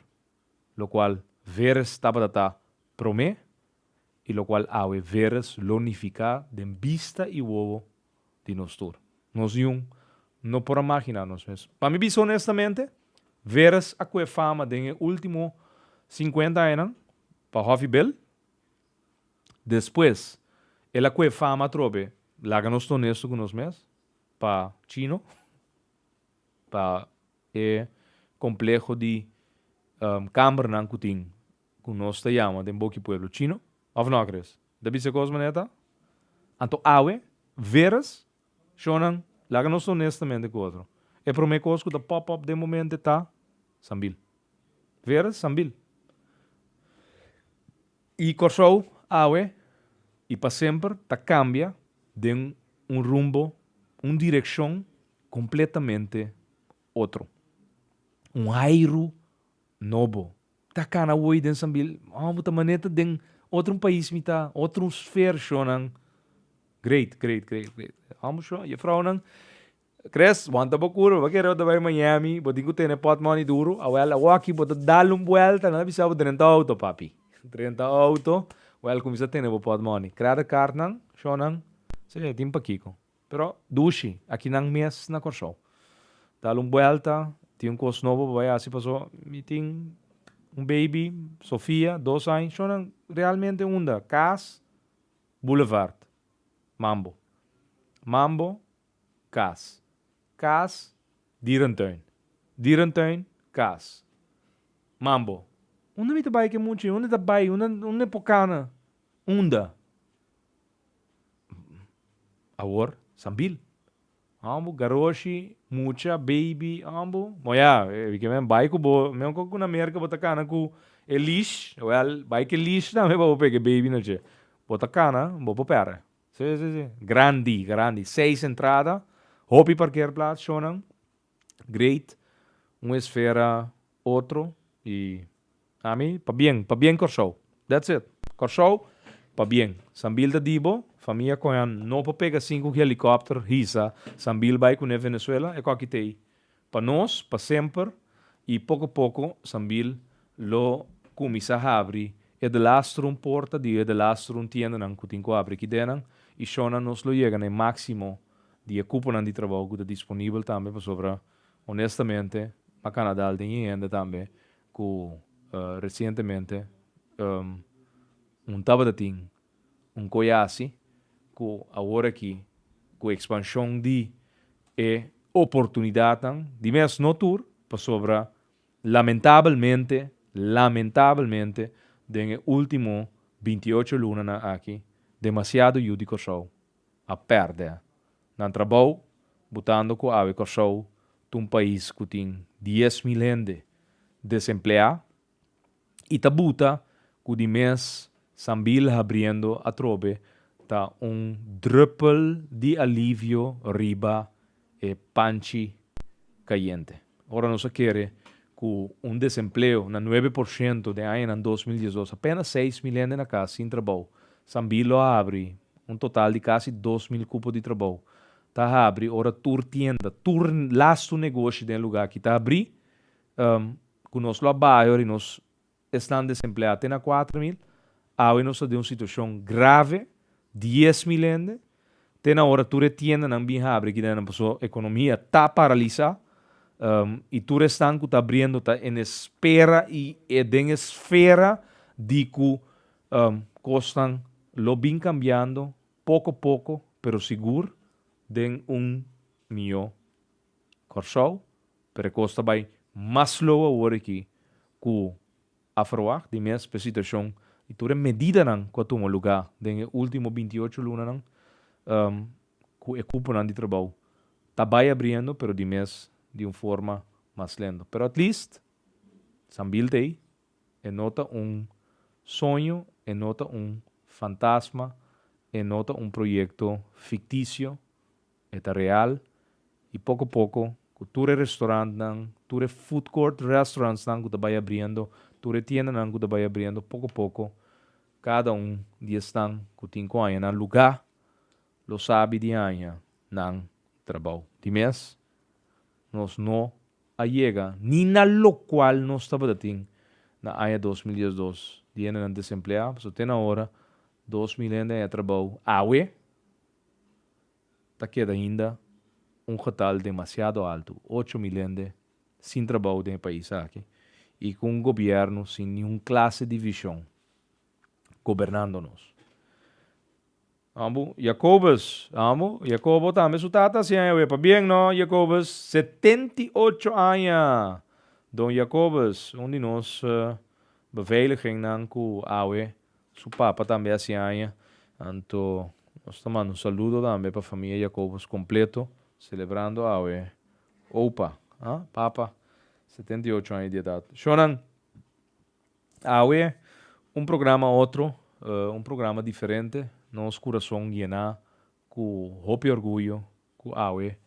lokual Veres tabata ta promé i lokual awe Veres lo nifiká den bista i wowo di nos tur. Nos yun no por a maginá nos mes. Pa mi bisa onestamente, Veres a kue fama den e último sinkuenta añanan pa Hoffy Bill. Despues el a koe fama atrobe, laga nos ta onesto ku nos mes, pa chino, pa e kompleho di kambernan ku tin, ku nos ta yama den boki pueblo chino, òf no, Chris? Ta bisa kos manera ta? Anto awe, veras, Shonnan, laga nos honestamente cu otro. E prome cos cu ta pop up den momente ta, Sambil. Vera? Sambil. Y Corsou, awe y pa semper, ta cambia den un rumbo, un direccion completamente otro. Un hairu nobo Ta cana woy den sambil oh bo ta maneta den otro un pais mi ta otro un sfer sho nan great great great great oh bo sho juffrouw nan Chris wanta bo cur bo ta kere bo ta bay Miami bo tin cu tene pot money duro a wel awo aki bo ta dal un buelta nan a bisa bo drenta auto papi drenta auto wel cuminsa tene bo pot money create card nan sho nan sey tin pakico. Pero dushi, aki nan mes na Kòrsou. Dal un buelta, tin un kos nobo pa bai hasi paso mi tin un baby, Sofia, dos aña. Shona realmente unda? Kas, boulevard, Mambo. Mambo, kas. Kas, dierentuin. Dierentuin, kas. Mambo, unda mi ta bai ke muchi? Unda ta bai? Unda mi por kana? Unda? awor sambil ambo garoshi mucha baby ambo mo ya e men bai ku bo men ku na merka bo ta kana ku e leash well bai ke leash tambe pa bo pega e baby no che bo ta kana bo por pera si si si grandi grandi seis entrada hopi parkeer plats shonan. great un esfera otro y ami pa bien pa bien Corsou that's it Corsou pa bien sambil ta di bo famia cohe an no por pega sin cu ki helicopter hisa sambil bay cune Venezuela ecoki ta ey pa nos pa semper y poco poco sambil lo cuminsa habri e de lastrum porta di e de lastrum tiendanan cu tin cu habri aki den nan y shona nos lo yega na e maximo di e cuponan di trabou cu ta disponibel tambe pasobra honestamente na Canada al tin e hende tambe cu recientemente un tabata tin un coye haci cu awor aki cu expansion di e oportunidadnan di mes no tur pasobra lamentabelmente lamentabelmente den e ultimo binti ocho lunanan aki demasiado yu di Corsou a perde nan trabou botando cu awe Corsou ta un pais cu tin dies mil hende desemplea y ta buta cu di mes sambil habriendo atrobe ta un druppel di alivio riba e panchi cayente. Ora nos a kere cu un desempleo na nuebe por ciento den añanan dos mil diesdos, apena seis mil hende na cas sin trabou. Sambil lo a habri un total di casi dos mil cupo di trabou ta habri ora tur tienda, tur lastu negoshi den e luga aki ta habri cu nos lo a bayor y nos Esnan desempleá te na kuater mil. Awe nos ta den un situashon grave, dies mil hende. Te na ora tur e tiendanan bin habri aki den nan paso ekonomia ta paralisá i tur esnan ku ta abriendo ta en e spera i e den e sfera di ku kosnan lo bin kambiando poko poko pero sigur den un mihó Kòrsou, pero e kos ta bai mas lou awor aki ku a ferwagt di mes pa e situashon di tur e medidanan ku a tuma lugá den e último binti ocho lunanan ku e kuponan di trabou ta bai abriendo pero di mes di un forma mas lento. Pero at least Sambil ta ei, e no ta un soño, e no ta un fantasma, e no ta un proyekto fiktisio E ta real, y poco poco, cu tur e restaurantnan, tur e food court restaurantsnan cu ta bay abriendo, tur e tiendanan cu ta bay abriendo, poco poco, cada un di esnan cu tin cu haña nan luga, lo sabi di haña nan trabou. Di mes, nos no a yega ni na locual nos tabata tin na aña dos mil diesdos, di hendenan desempleá, pasobra te na ora, dos mil hende haña trabou awe. ta keda ainda un getal demasiado altu, ocho mil hende sin trabou den e pais aki y cu un gobierno sin ningun clase di vision gobernando nos. Amo, Jacobus, amo, Jacobo tambe su tata hacian e we pa bien, no, Jacobus? Setenta y ocho aña! Don Jacobus, un di nos beveiligennan cu awe Su papa tambe a hasi aña, anto nos ta manda un saludo tambe pa famia Jacobus completo, celebrando awe opa, ha? papa, setenta i ocho aña di edad. Shonan, awe un programa otro, un programa diferente, nos curason yena Ku hopi orguyo ku awe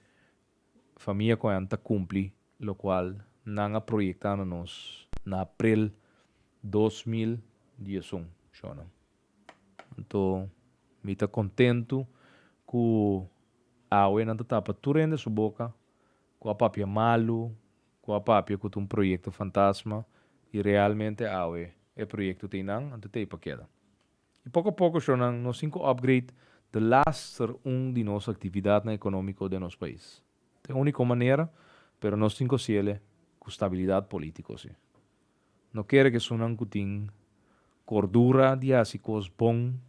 famia ku ayam ta kumpli lokual nan a proyektá na nos na aprel dos mil dies un. Shonnan. Anto mi ta kontentu ku awe nan ta tapa tur hende su boka ku a papia malu, ku a papia ku ta un proyekto fantasma i realmente awe e proyekto ta einan, anto ta ei pa keda. I poko a poko, shownan, nos tin ku upgrade de laster un di nos aktividatnan ekonómiko den nos pais. Ta e úniko manera, pero nos tin ku hasiele ku stabilidat polítiko. Si no kere ku esunnan ku tin kordura di hasi kos bon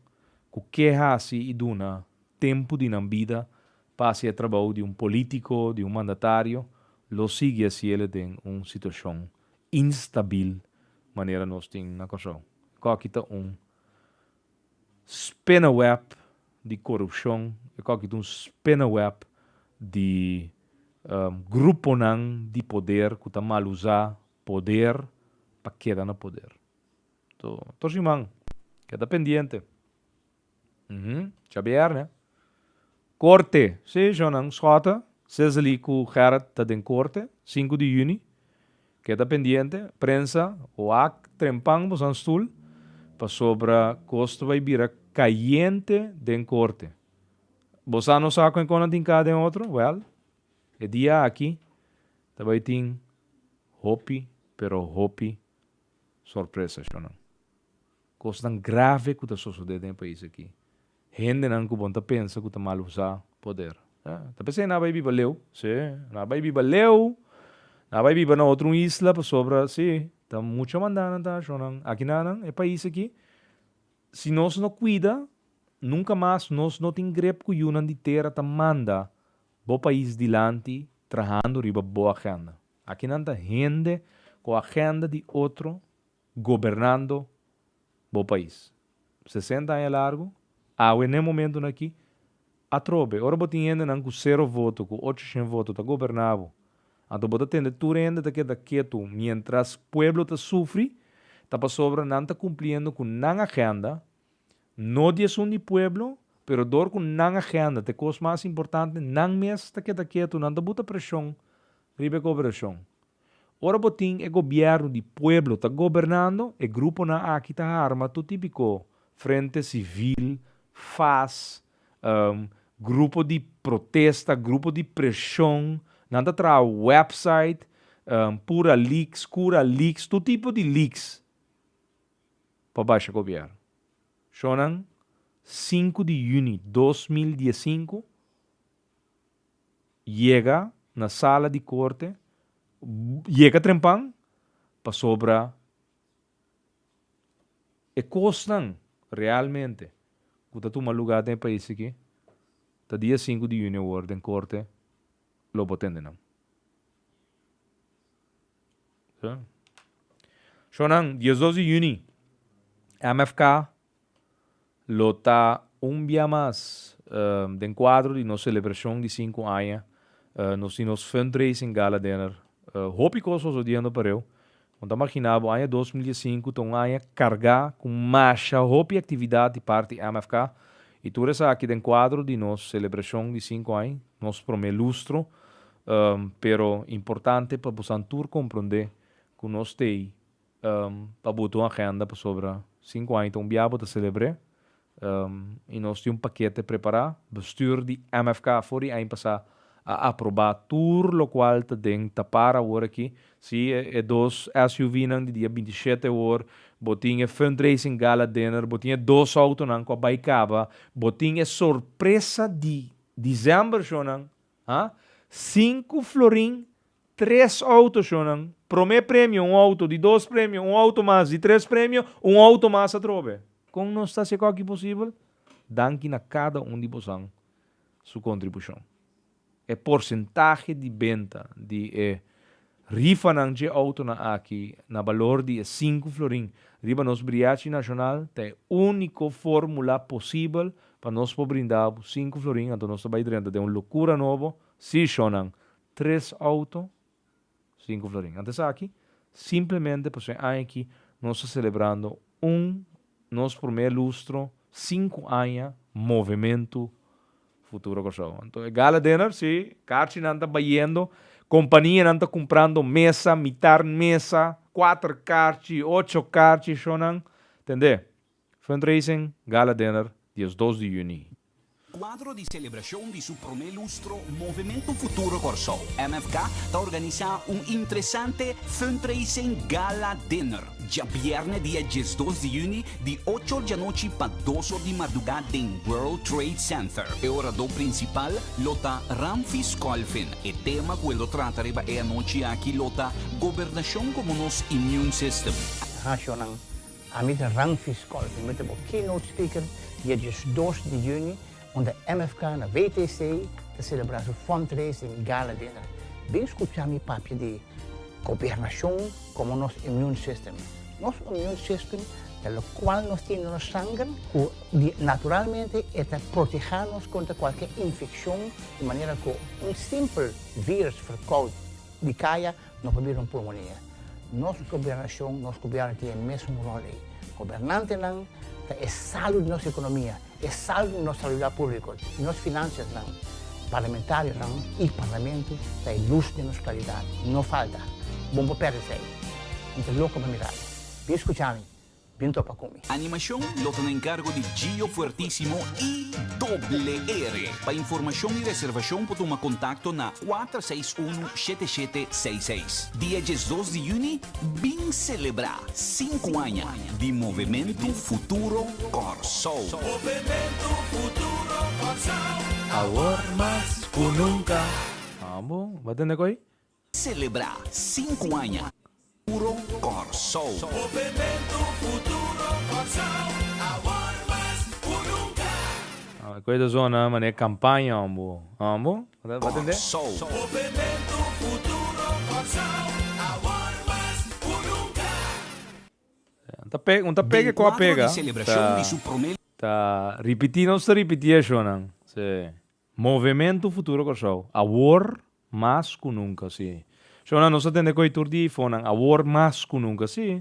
ku ke hasi i duna tempu di nan bida pa hasi e trabou di un polítiko, di un mandatario, lo sigui hasiele den un situashon instabil manera nos tin na Kòrsou. E kòki ta un spinneweb di korupshon, e kòki ta un spinneweb di gruponan di poder ku ta malusá poder pa keda na poder. Tor siman keda pendiente. Xabier, ne? Korte. Si, shonnan. Schotten, Cecily ku Gerrit ta den korte. Sinku di yüni. Keda pendiente. Prensa, wak trempan boso nan stul, pasobra kos ta bai bira kayente den korte. Bo sa nos sa kon nan tin ka den otro? Wèl, e dia aki ta bai tin hopi, pero hopi sorpresa, shonnan. Kosnan grave ku ta sosodé den e pais aki. Hendenan ku bon ta pensa ku ta mal usá poder. Ta p'esei nan a bai biba leu. Sí, nan a bai biba leu. Nan a bai biba na otro un isla pasobra, sí, ta mucha mandá nan ta hash'é nan. Aki na nan, e pais aki, si nos no kuida, nunka mas nos no tin grep ku yunan di tera ta manda bo pais dilanti trahando riba bo agenda. Aki nan ta hende ku agenda di otro Gobernando bo pais. Sesenta aña largu, awe n'e momentonan aki, atrobe, ora bo tin hendenan ku sero voto, ku ocho shen voto ta goberná bo, anto bo ta tende tur hende ta keda ketu miéntras pueblo ta sufri, ta pasobra nan ta kumpliendo ku nan agenda, no di esun di pueblo, pero dor ku nan agenda ta e kos mas importante, nan mes ta keda ketu, nan ta buta preshon riba e goberashon. Ora bo tin e gobierno di pueblo ta gobernando, e gruponan aki ta harma tur tipiko frente civil, fas, grupo di protesta, grupo di presion, nan ta traha website, pura leaks, cura leaks, tur tipo di leaks pa basha gobierno. Shonan sinku di juni dos mil dies sinku. yega na sala di korte yega trempan pasobra e kosnan realmente ku ta tuma lugá den e pais aki ta dia sinku di yunio wòrdu den korte lo bo tende nan. Shò nan dies dos di yuni MFK Lo ta un bia mas den kuadro di nos selebrashon di sinku aña. Nos tin nos fundraising gala dinner. Hopi kos ta sosodiendo pareu. Bon ta maginá bo, aña dos mil dies i sinku ta un aña kargá ku masha hopi aktividat di parti di MFK. I tur esaki den kuadro di nos selebrashon di sinku aña, nos promé lustro. Pero importante pa bosan tur komprondé ku nos t'ei. Pa bo ta un agenda pasobra sinku aña ta un bia bo ta selebr'é i nos tin un pakete prepará. Bestür di MFK for di aña pasá a aprobá tur lokual ta den ta par awor aki. Sí, e dos SUVnan di dia binti shete awor, bo tin e fundraising gala dinner, bo tin e dos outonan ku a bai kaba, bo tin e sorpresa di December shownan. Ha? Sinku florin, tres autoshonan, promé premio un auto, di dos premio un auto mas, di tres premio un auto mas atrobe. Kon nos ta seco aki posibel? Danki na cada un di bosan su contribucion. E porcentahe di benta di e. Rifa nan dje autonan aki na balor di e sinku florin riba nos briachi nashonal ta e úniko fórmula posibel pa nos por brinda bo sinku florin anto nos ta bai drenta den un lokura nobo, sí shonnan, tres auto sinku florin. Ant esaki, simplemente pasobra e aña aki nos ta selebrando un nos promé lustro sinku aña movementu Futuro Kòrsou. Anto e gala dinner, sí, karchinan ta bayendo, kompanianan ta kumprando mesa, mitar mesa, kuater karchi, ocho karchi, shownan. Tende? Fundraising, gala dinner, diesdos di yüni. Kuadro di selebrashon di su promé lustro, Movimiento Futuro Kòrsou, MFK, ta organisá un interesante Fundraising Gala Dinner. Djabièrnè dia diesdos di yüni di ocho or di anochi pa dos or di mardugá den World Trade Center. E oradó prinsipal lo ta Ramfis Colvin. E tema ku el lo trata riba e anochi aki lo ta Gobernashon komo nos Immune System. Rashonan, Ami ta Ramfis Colvin. Mi ta bo keynote speaker dia diesdos di yüni. unda MFK na WTC ta selebrá su fundraising gala dinner. Bin skuchá mi papia di Gobernashon komo nos immune system. Nos immune system ta lokual nos tin den nos sanger ku di naturalmente e ta protehá nos kontra kualke infekshon di manera ku un simpel vírùs ferkoud di kaya No por bira un pulmonia. Nos gobernacion, nos gobierno tin e mesun rol ey. Gobernantenan ta e salu di nos economia, e salu di nos salubridad publico, di nos financiasnan. Parlamentarionan y Parlamento ta e luz den nos claridad. No falta. Bon por perde fe ey. Mi ta loco pa mirami. Bin scucha mi. Bin topa ku mi. Animashon lo ta na enkargo di Gio Fuertisimo i Doble Ere. Pa informashon i reservashon por tuma kontakto na kuater seis unu shete shete seis seis. Dia diesdos di yüni bin selebrá sinku aña di Movementu Futuro Kòrsou. Movementu Futuro Kòrsou. Awor mas ku nunka. Ambo, Batende ku ei? Selebrá sinku aña Futuro Kòrsou. Kueda zona manera kampaña hombo. Hombo? Bo tende? Un ta pega, un ta pega ku a pega. Ta ripití nos ta ripití e shonan. Sí. Movementu Futuro Kòrsou, awor mas ku nunka si. Shona, nos ta tende ku e tur di hifonan, awor mas ku nunka si.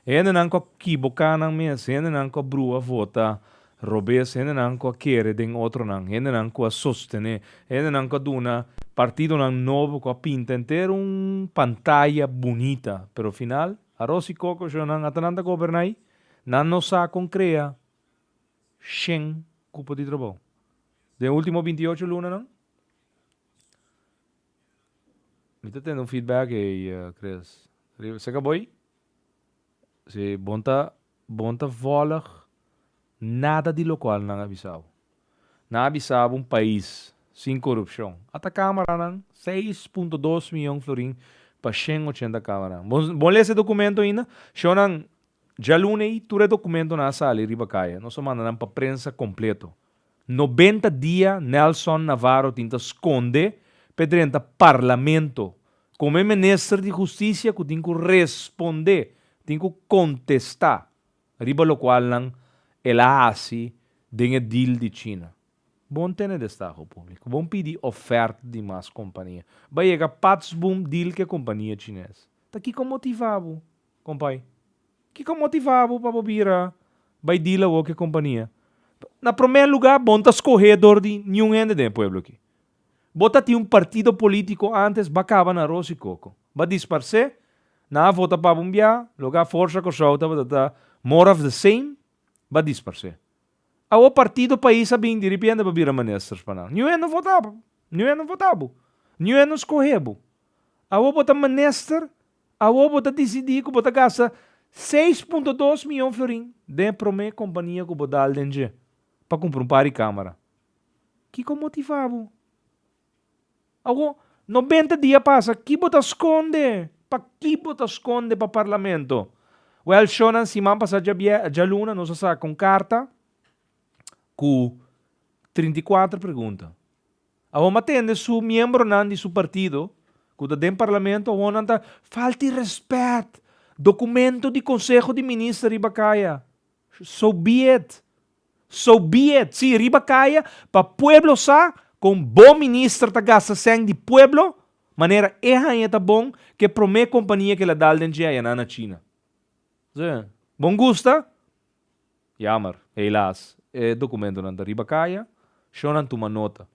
Hendenan ku a kiboká nan mes, hendenan ku a brua vota robes, hendenan ku a kere den otronan, hendenan ku a sostené, hendenan ku a duna partidonan nobo ku a pinta enter un pantaya bunita, pero final aros i koko shona ata nan ta goberná ei, nan no sa kon krea shen kupo di trobou. Den ultimo binti y ocho lunanan mi ta tende un feedback ei, Chris. Riba seka bo ei? Si bon ta bon ta vòlg nada di lokual nan a bisa bo. Nan a bisa bo un pais sin korupshon. Ata kameranan, seis punto dos miyon florin pa shen ochenta kameranan. Bo bon lesa e dokumento ainda? Shonnan, djaluna ei tur e dokumentonan a sali riba kaya. Nos a manda nan pa prensa kompleto. Nobenta dia Nelson Navarro tin ta skonde p'e drenta parlamento komo e minister di hustisia ku tin ku respondé, tin ku kontestá riba lokualnan el a hasi den e deal di China. Bon tene destaho públiko, bon pidi ofert di mas kompania. Bai yega patsboom deal ku e kompania chines. Ta kiko motivá bo? Kompai, kiko motivá bo pa bo bira bai dil awor ku e kompania? Na promé lugá, bo no ta skohé dor di niun hende den e pueblo akí. Bo ta tin un partido polítiko ántes ba kaba na aros i koko. Ba disparsé, nan a vota pa bo un biaha, loke a Forza Kòrsou tabata ta more of the same, ba disparsé. Awor partido pais a bin, diripiente bo a bira ministers pa nan. Niun hende no votá pa bo. Niun hende no votá bo. Niun hende no skohé bo. Awor bo ta minister Awor bo ta disidí ku bo ta gasta seis punto dos mion florin den e promé kompania ku bo dal den dje pa kumpra un par di kámara. Kiko motivá bo? Awor, nobenta dia pasa, ki bo ta skonde? Pakí bo ta skonde pa parlamento? Wèl, shownan siman pasá djaluna nos a saka un karta ku trinta i kuater pregunta. Awoma tende su miembronan di su partido ku ta den parlamento awor nan ta falta di respet dokumento di konseho di minister riba kaya so be it so be it si riba kaya pa pueblo sa kon bon minister ta gasta sèn di pueblo manera e haña ta bon ke prome kompania ke la dal den dje ayannan na china bon gusta Yamer, helas, e dokumentonan ta riba kaya, shonnan tuma nota.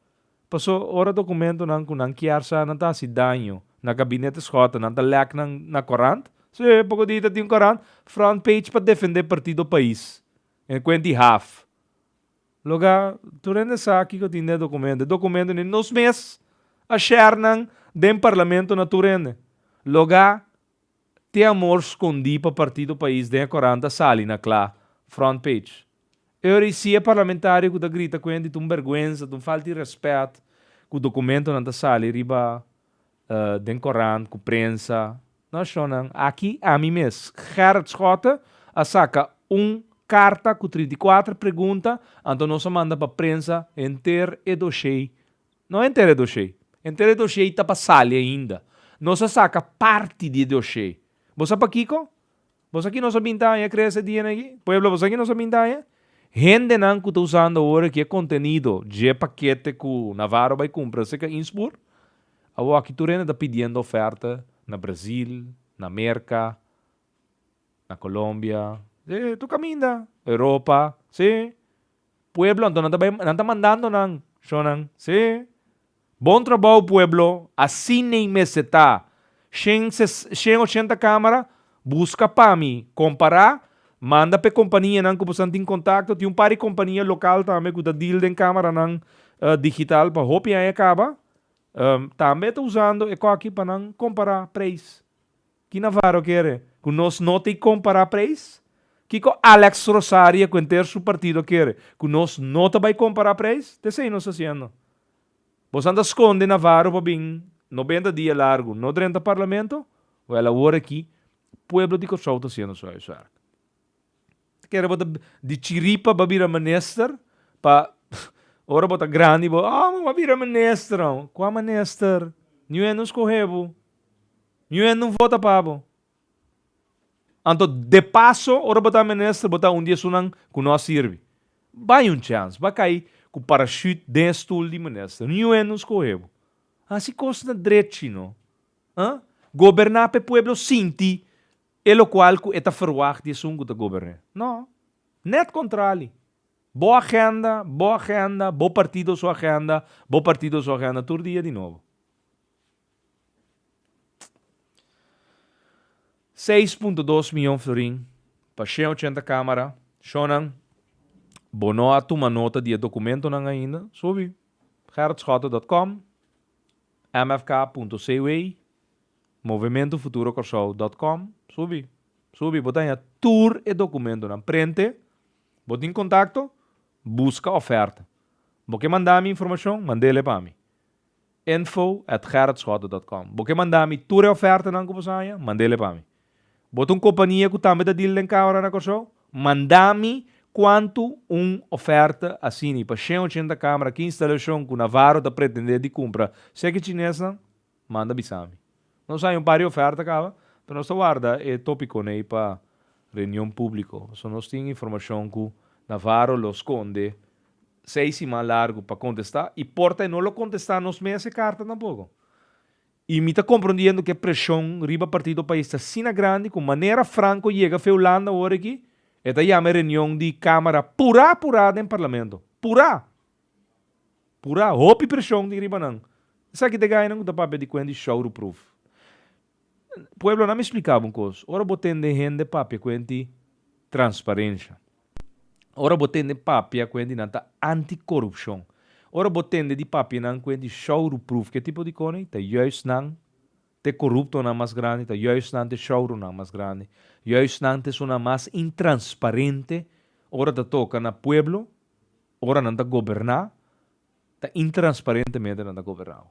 Paso, ora dokumentonan ku nan kier sa nan ta hasi daño na gabinete Schotten, nan ta lek nan na korant? Sí, poko di ta tin un korant front page pa defendé partido Pais, e kuent di haf. Loga, tur hende sa kiko ta tin den e dokumento. E dokumento ni nos mes a share nan den parlamento na tur hende. Loga. Te amor scondí pa Partido Pais den e coranta sali na cla, front page. Eur y si e parlamentario cu ta grita cuenti ta un berguenza, ta un falta di respet cu documentonan ta sali riba den corant cu prensa. No shonnan, aki ami mes, Gerrit Schotte, a saca un carta cu trinta y cuater pregunta, anto nos a manda pa prensa henter e doshey No entera e doshei. Entera e doshei ta pa sali ainda. Nos a saka parti di e doshei. Bo sa pakiko? Bo sa ki nos a binta aña krea se dianan aki? Pueblo, bo sa ki nos a binta aña? Hendenan ku ta usando ora ki e kontenido dje pakete ku Navarro bai kumpra se ka inspur, awoaki tur hende ta pidiendo oferta na Brazil, na Merka, na Colombia, si, tur kaminda, Europa, si. Pueblo anto nan ta bai nan ta mandando nan shonan si bon trabou pueblo asin nei mester ta shen ses shen ochenta camera busca pa mi compara manda pe compania nan cu bosan tin contacto tin un par di compania local tambe cu ta deal den camera nan digital pa hopi aña caba tambe ta usando e coki pa nan compara prijs. Ki Navarro kere? Ku nos no ta kompará preis? Kiko Alex Rosaria ku henter su partido kere? Ku nos no ta bai kompará preis? Te esei nos ta hasiendo. Bosan ta skonde Navarro pa bin nobenta dia largu no drenta parlamento? Wèl awor aki pueblo di Kòrsou ta hasiendo su huiswèrk. Kere bo ta di chiripa bo bira minister pa ora bo ta grandi bo oh mi wou bira minister oh kua minister ni wen no scohe bo ni wen no vota pa bo anto de paso ora bo ta minister bo ta un di esunnan ku no a sirbi bai un chance ba kai ku parachute den e stoel di minister ni wen no scohe bo asi cos na drechi no ah goberna p'e pueblo sinti E locual cu e ta verwacht di esun cu ta goberné? No. Net contrali. Bo agenda, bo agenda, bo partido su agenda, bo partido su agenda tur dia di nobo. Seis punto dos miyon florin pa she ochenta camara, shonan, bo no a tuma nota di e documentonan ainda, subi, gerritschotten dot com, mfk punto cw. movementofuturocorsou.com Subi, subi, bo ta haña tur e documentonan prente, bo tin contacto, busca oferta. Bo ke manda mi informacion, mandele pa mi. Info at gerritschotten.com Bo ke manda mi tur e ofertanan cu bo sa haña, mandele pa mi. Bo ta un compania cu tambe ta deal den camera na Corsou? Manda mi cuanto un oferta asina y pa shen ochenta camera, ki instalacion cu Navarro ta pretende di cumpra, seki chinesnan? manda bisa mi. Nos a hay un par di oferta caba, pero nos ta warda e topiconan ey pa reunion publico. So nos tin informacion cu Navarro lo sconde seis siman largo pa contesta y por ta e no lo contesta nos mes e carta tampoco. Y mi ta comprondiendo cu e presion riba partido pais ta asina grandi cu manera Franco yega fe Hulanda aworiki e ta yama e reunion di camara pura pura den parlamento. Pura! Pura hopi preshon tin riba nan. Esaki ta e gayanan ku ta papia di kuent di showroproof. Pueblo, na mi spliká bo un kos. Ora bo tende hende papia kuent di transparensha, ora bo tende papia kuent di nan ta antikorupshon, ora bo tende di papia nan kuent di showroproof, ke tipo di koni? Ta juist nan t'e koruptonan mas grandi, ta juist nan t'e showroomnan mas grandi, juist nan t'esunnan mas intransparente ora ta toka na pueblo. Ora nan ta goberná, ta intransparentemente nan ta goberná bo.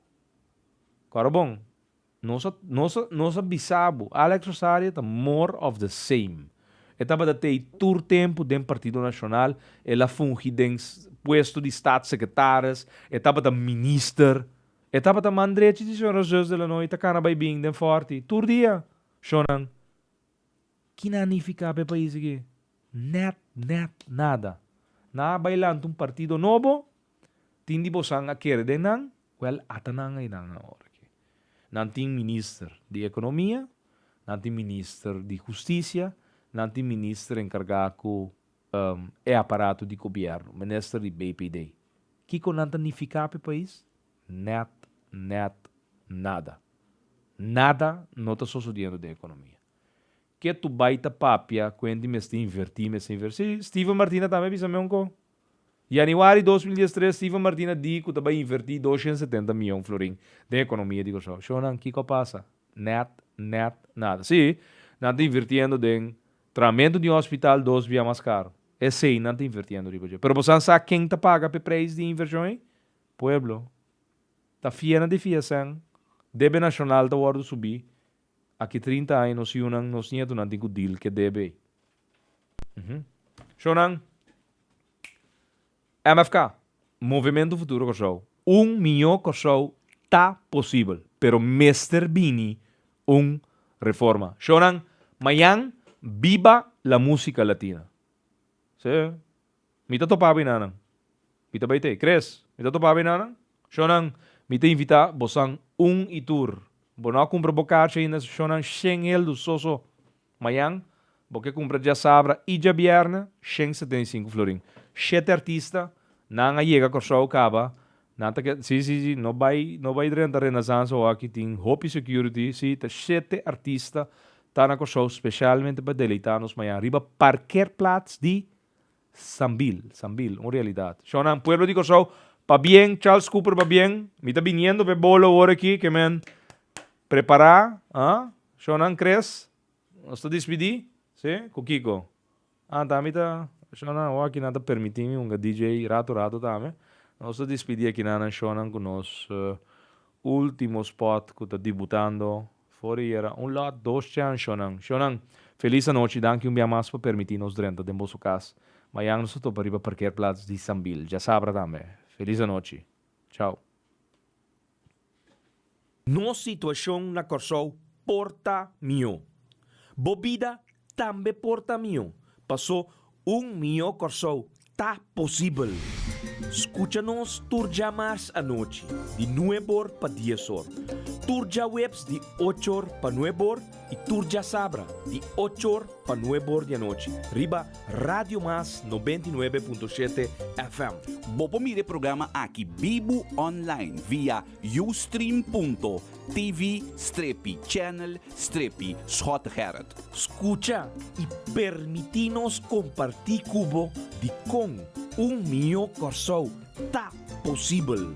Kòrda bon, nos a nos a nos a bisa bo, Alex Rosario ta more of the same. E tabata t'ei tur tempu den Partido Nacional, el a fungi den puesto di Staatssecretaris, e tabata minister, e tabata man drechi di señora Zus de Lannoy ta kana bai bin den Fòrti tur dia, shonnan. Kina a nifiká pa e pais aki? Nèt, nèt nada. Nan a bai lanta un partido nobo, tin di bosan a kere den nan, wèl ata nan einan awor aki. Nan tin minister di ekonomia, nan tin minister di hustisia, nan tin minister enkargá ku e aparato di gobièrnu, minister di BPD. Kiko nan ta nifiká pa e pais? Nèt, nèt nada. Nada no ta sosodiendo den ekonomia. Ke tu bai ta papia kuent di mester invertí, mester invertí? Steven Martina tambe a bisa mi un ko. Yanüari dos mil dies tres Steven Martina di ku ta bai invertí doshent setenta mion florin den ekonomia di Kòrsou. Shonnan, kiko a pasa? Nèt, nèt nada. Sí, nan ta invirtiendo den traamentu di un hospital dos bia mas karo. Esei nan ta invirtiendo riba dje. Pero bo san sa ken ta paga p'e preis di e invershon ei? Pueblo ta fiena di fiesèn, debe nashonal ta wòrdu subí, aki trinta aña nos hiunan, nos nietunan tin ku dil k'e debe ei. Uhm. Shò nan, MFK, Movementu Futuro Kòrsou, un mió Kòrsou ta posibel, pero mester bini un reforma. Shò nan, mañan, biba la músika latina! Seh. Mi ta topá bo i nanan. Mi ta bai t'ei. Kres, mi ta topá bo i nanan. Shónan, mi ta invitá bosan un i tur. Bo no a kumpra bo karchi ainda so shónan shen heldu so so. Mañan bo ke kumpra djasabra i djabièrnè shen setenta i sinku florin. Shete artista nan a yega Kòrsou kaba nan ta ke si si si no bai no bai drenta Renaissance awaki tin hopi security si ta shete artista ta na Kòrsou specialmente pa deleitá nos mañan riba parkeerplaats di Sambil, sambil, un realidad. Shownan, pueblo di Kòrsou, pabien, Charles Cooper pabien, mi ta biniendo p'e bolo ora aki, ke men prepará, a? Shownan Cres, nos ta dispidí, si? Ku kiko? Ah, ta mi ta, shownan, awo aki nan ta permití mi hunga DJ rato rato tambe. Nos ta dispidí aki nan nan shownan ku nos último spot ku ta dibutando For di yera, un lot dos chan shonnan. Shonnan, Feliz anochi, danki un bia mas pa permiti nos drenta den boso cas. Mayan nos ta topa riba parkeerplaats di Sambil. Djasabra tambe. Feliz anochi. Chao. Nos situacion na Corsou por ta mihó. Bo bida Tambe por ta mihó, paso un mihó Kòrsou ta posibel. Skucha nos tur djamars anochi di nueb or pa dies or, tur djaweps di och or pa nueb or i tur djasabra di och or pa nueb or di anochi riba Radio Mas nobenta i nuebe punto shete FM. Bo por mira e programa aki bibu online via Ustream. TV strepi channel strepi Schot Gerrit. Scucha y permiti nos comparti cu bo di con un miyo Corsou ta posibel.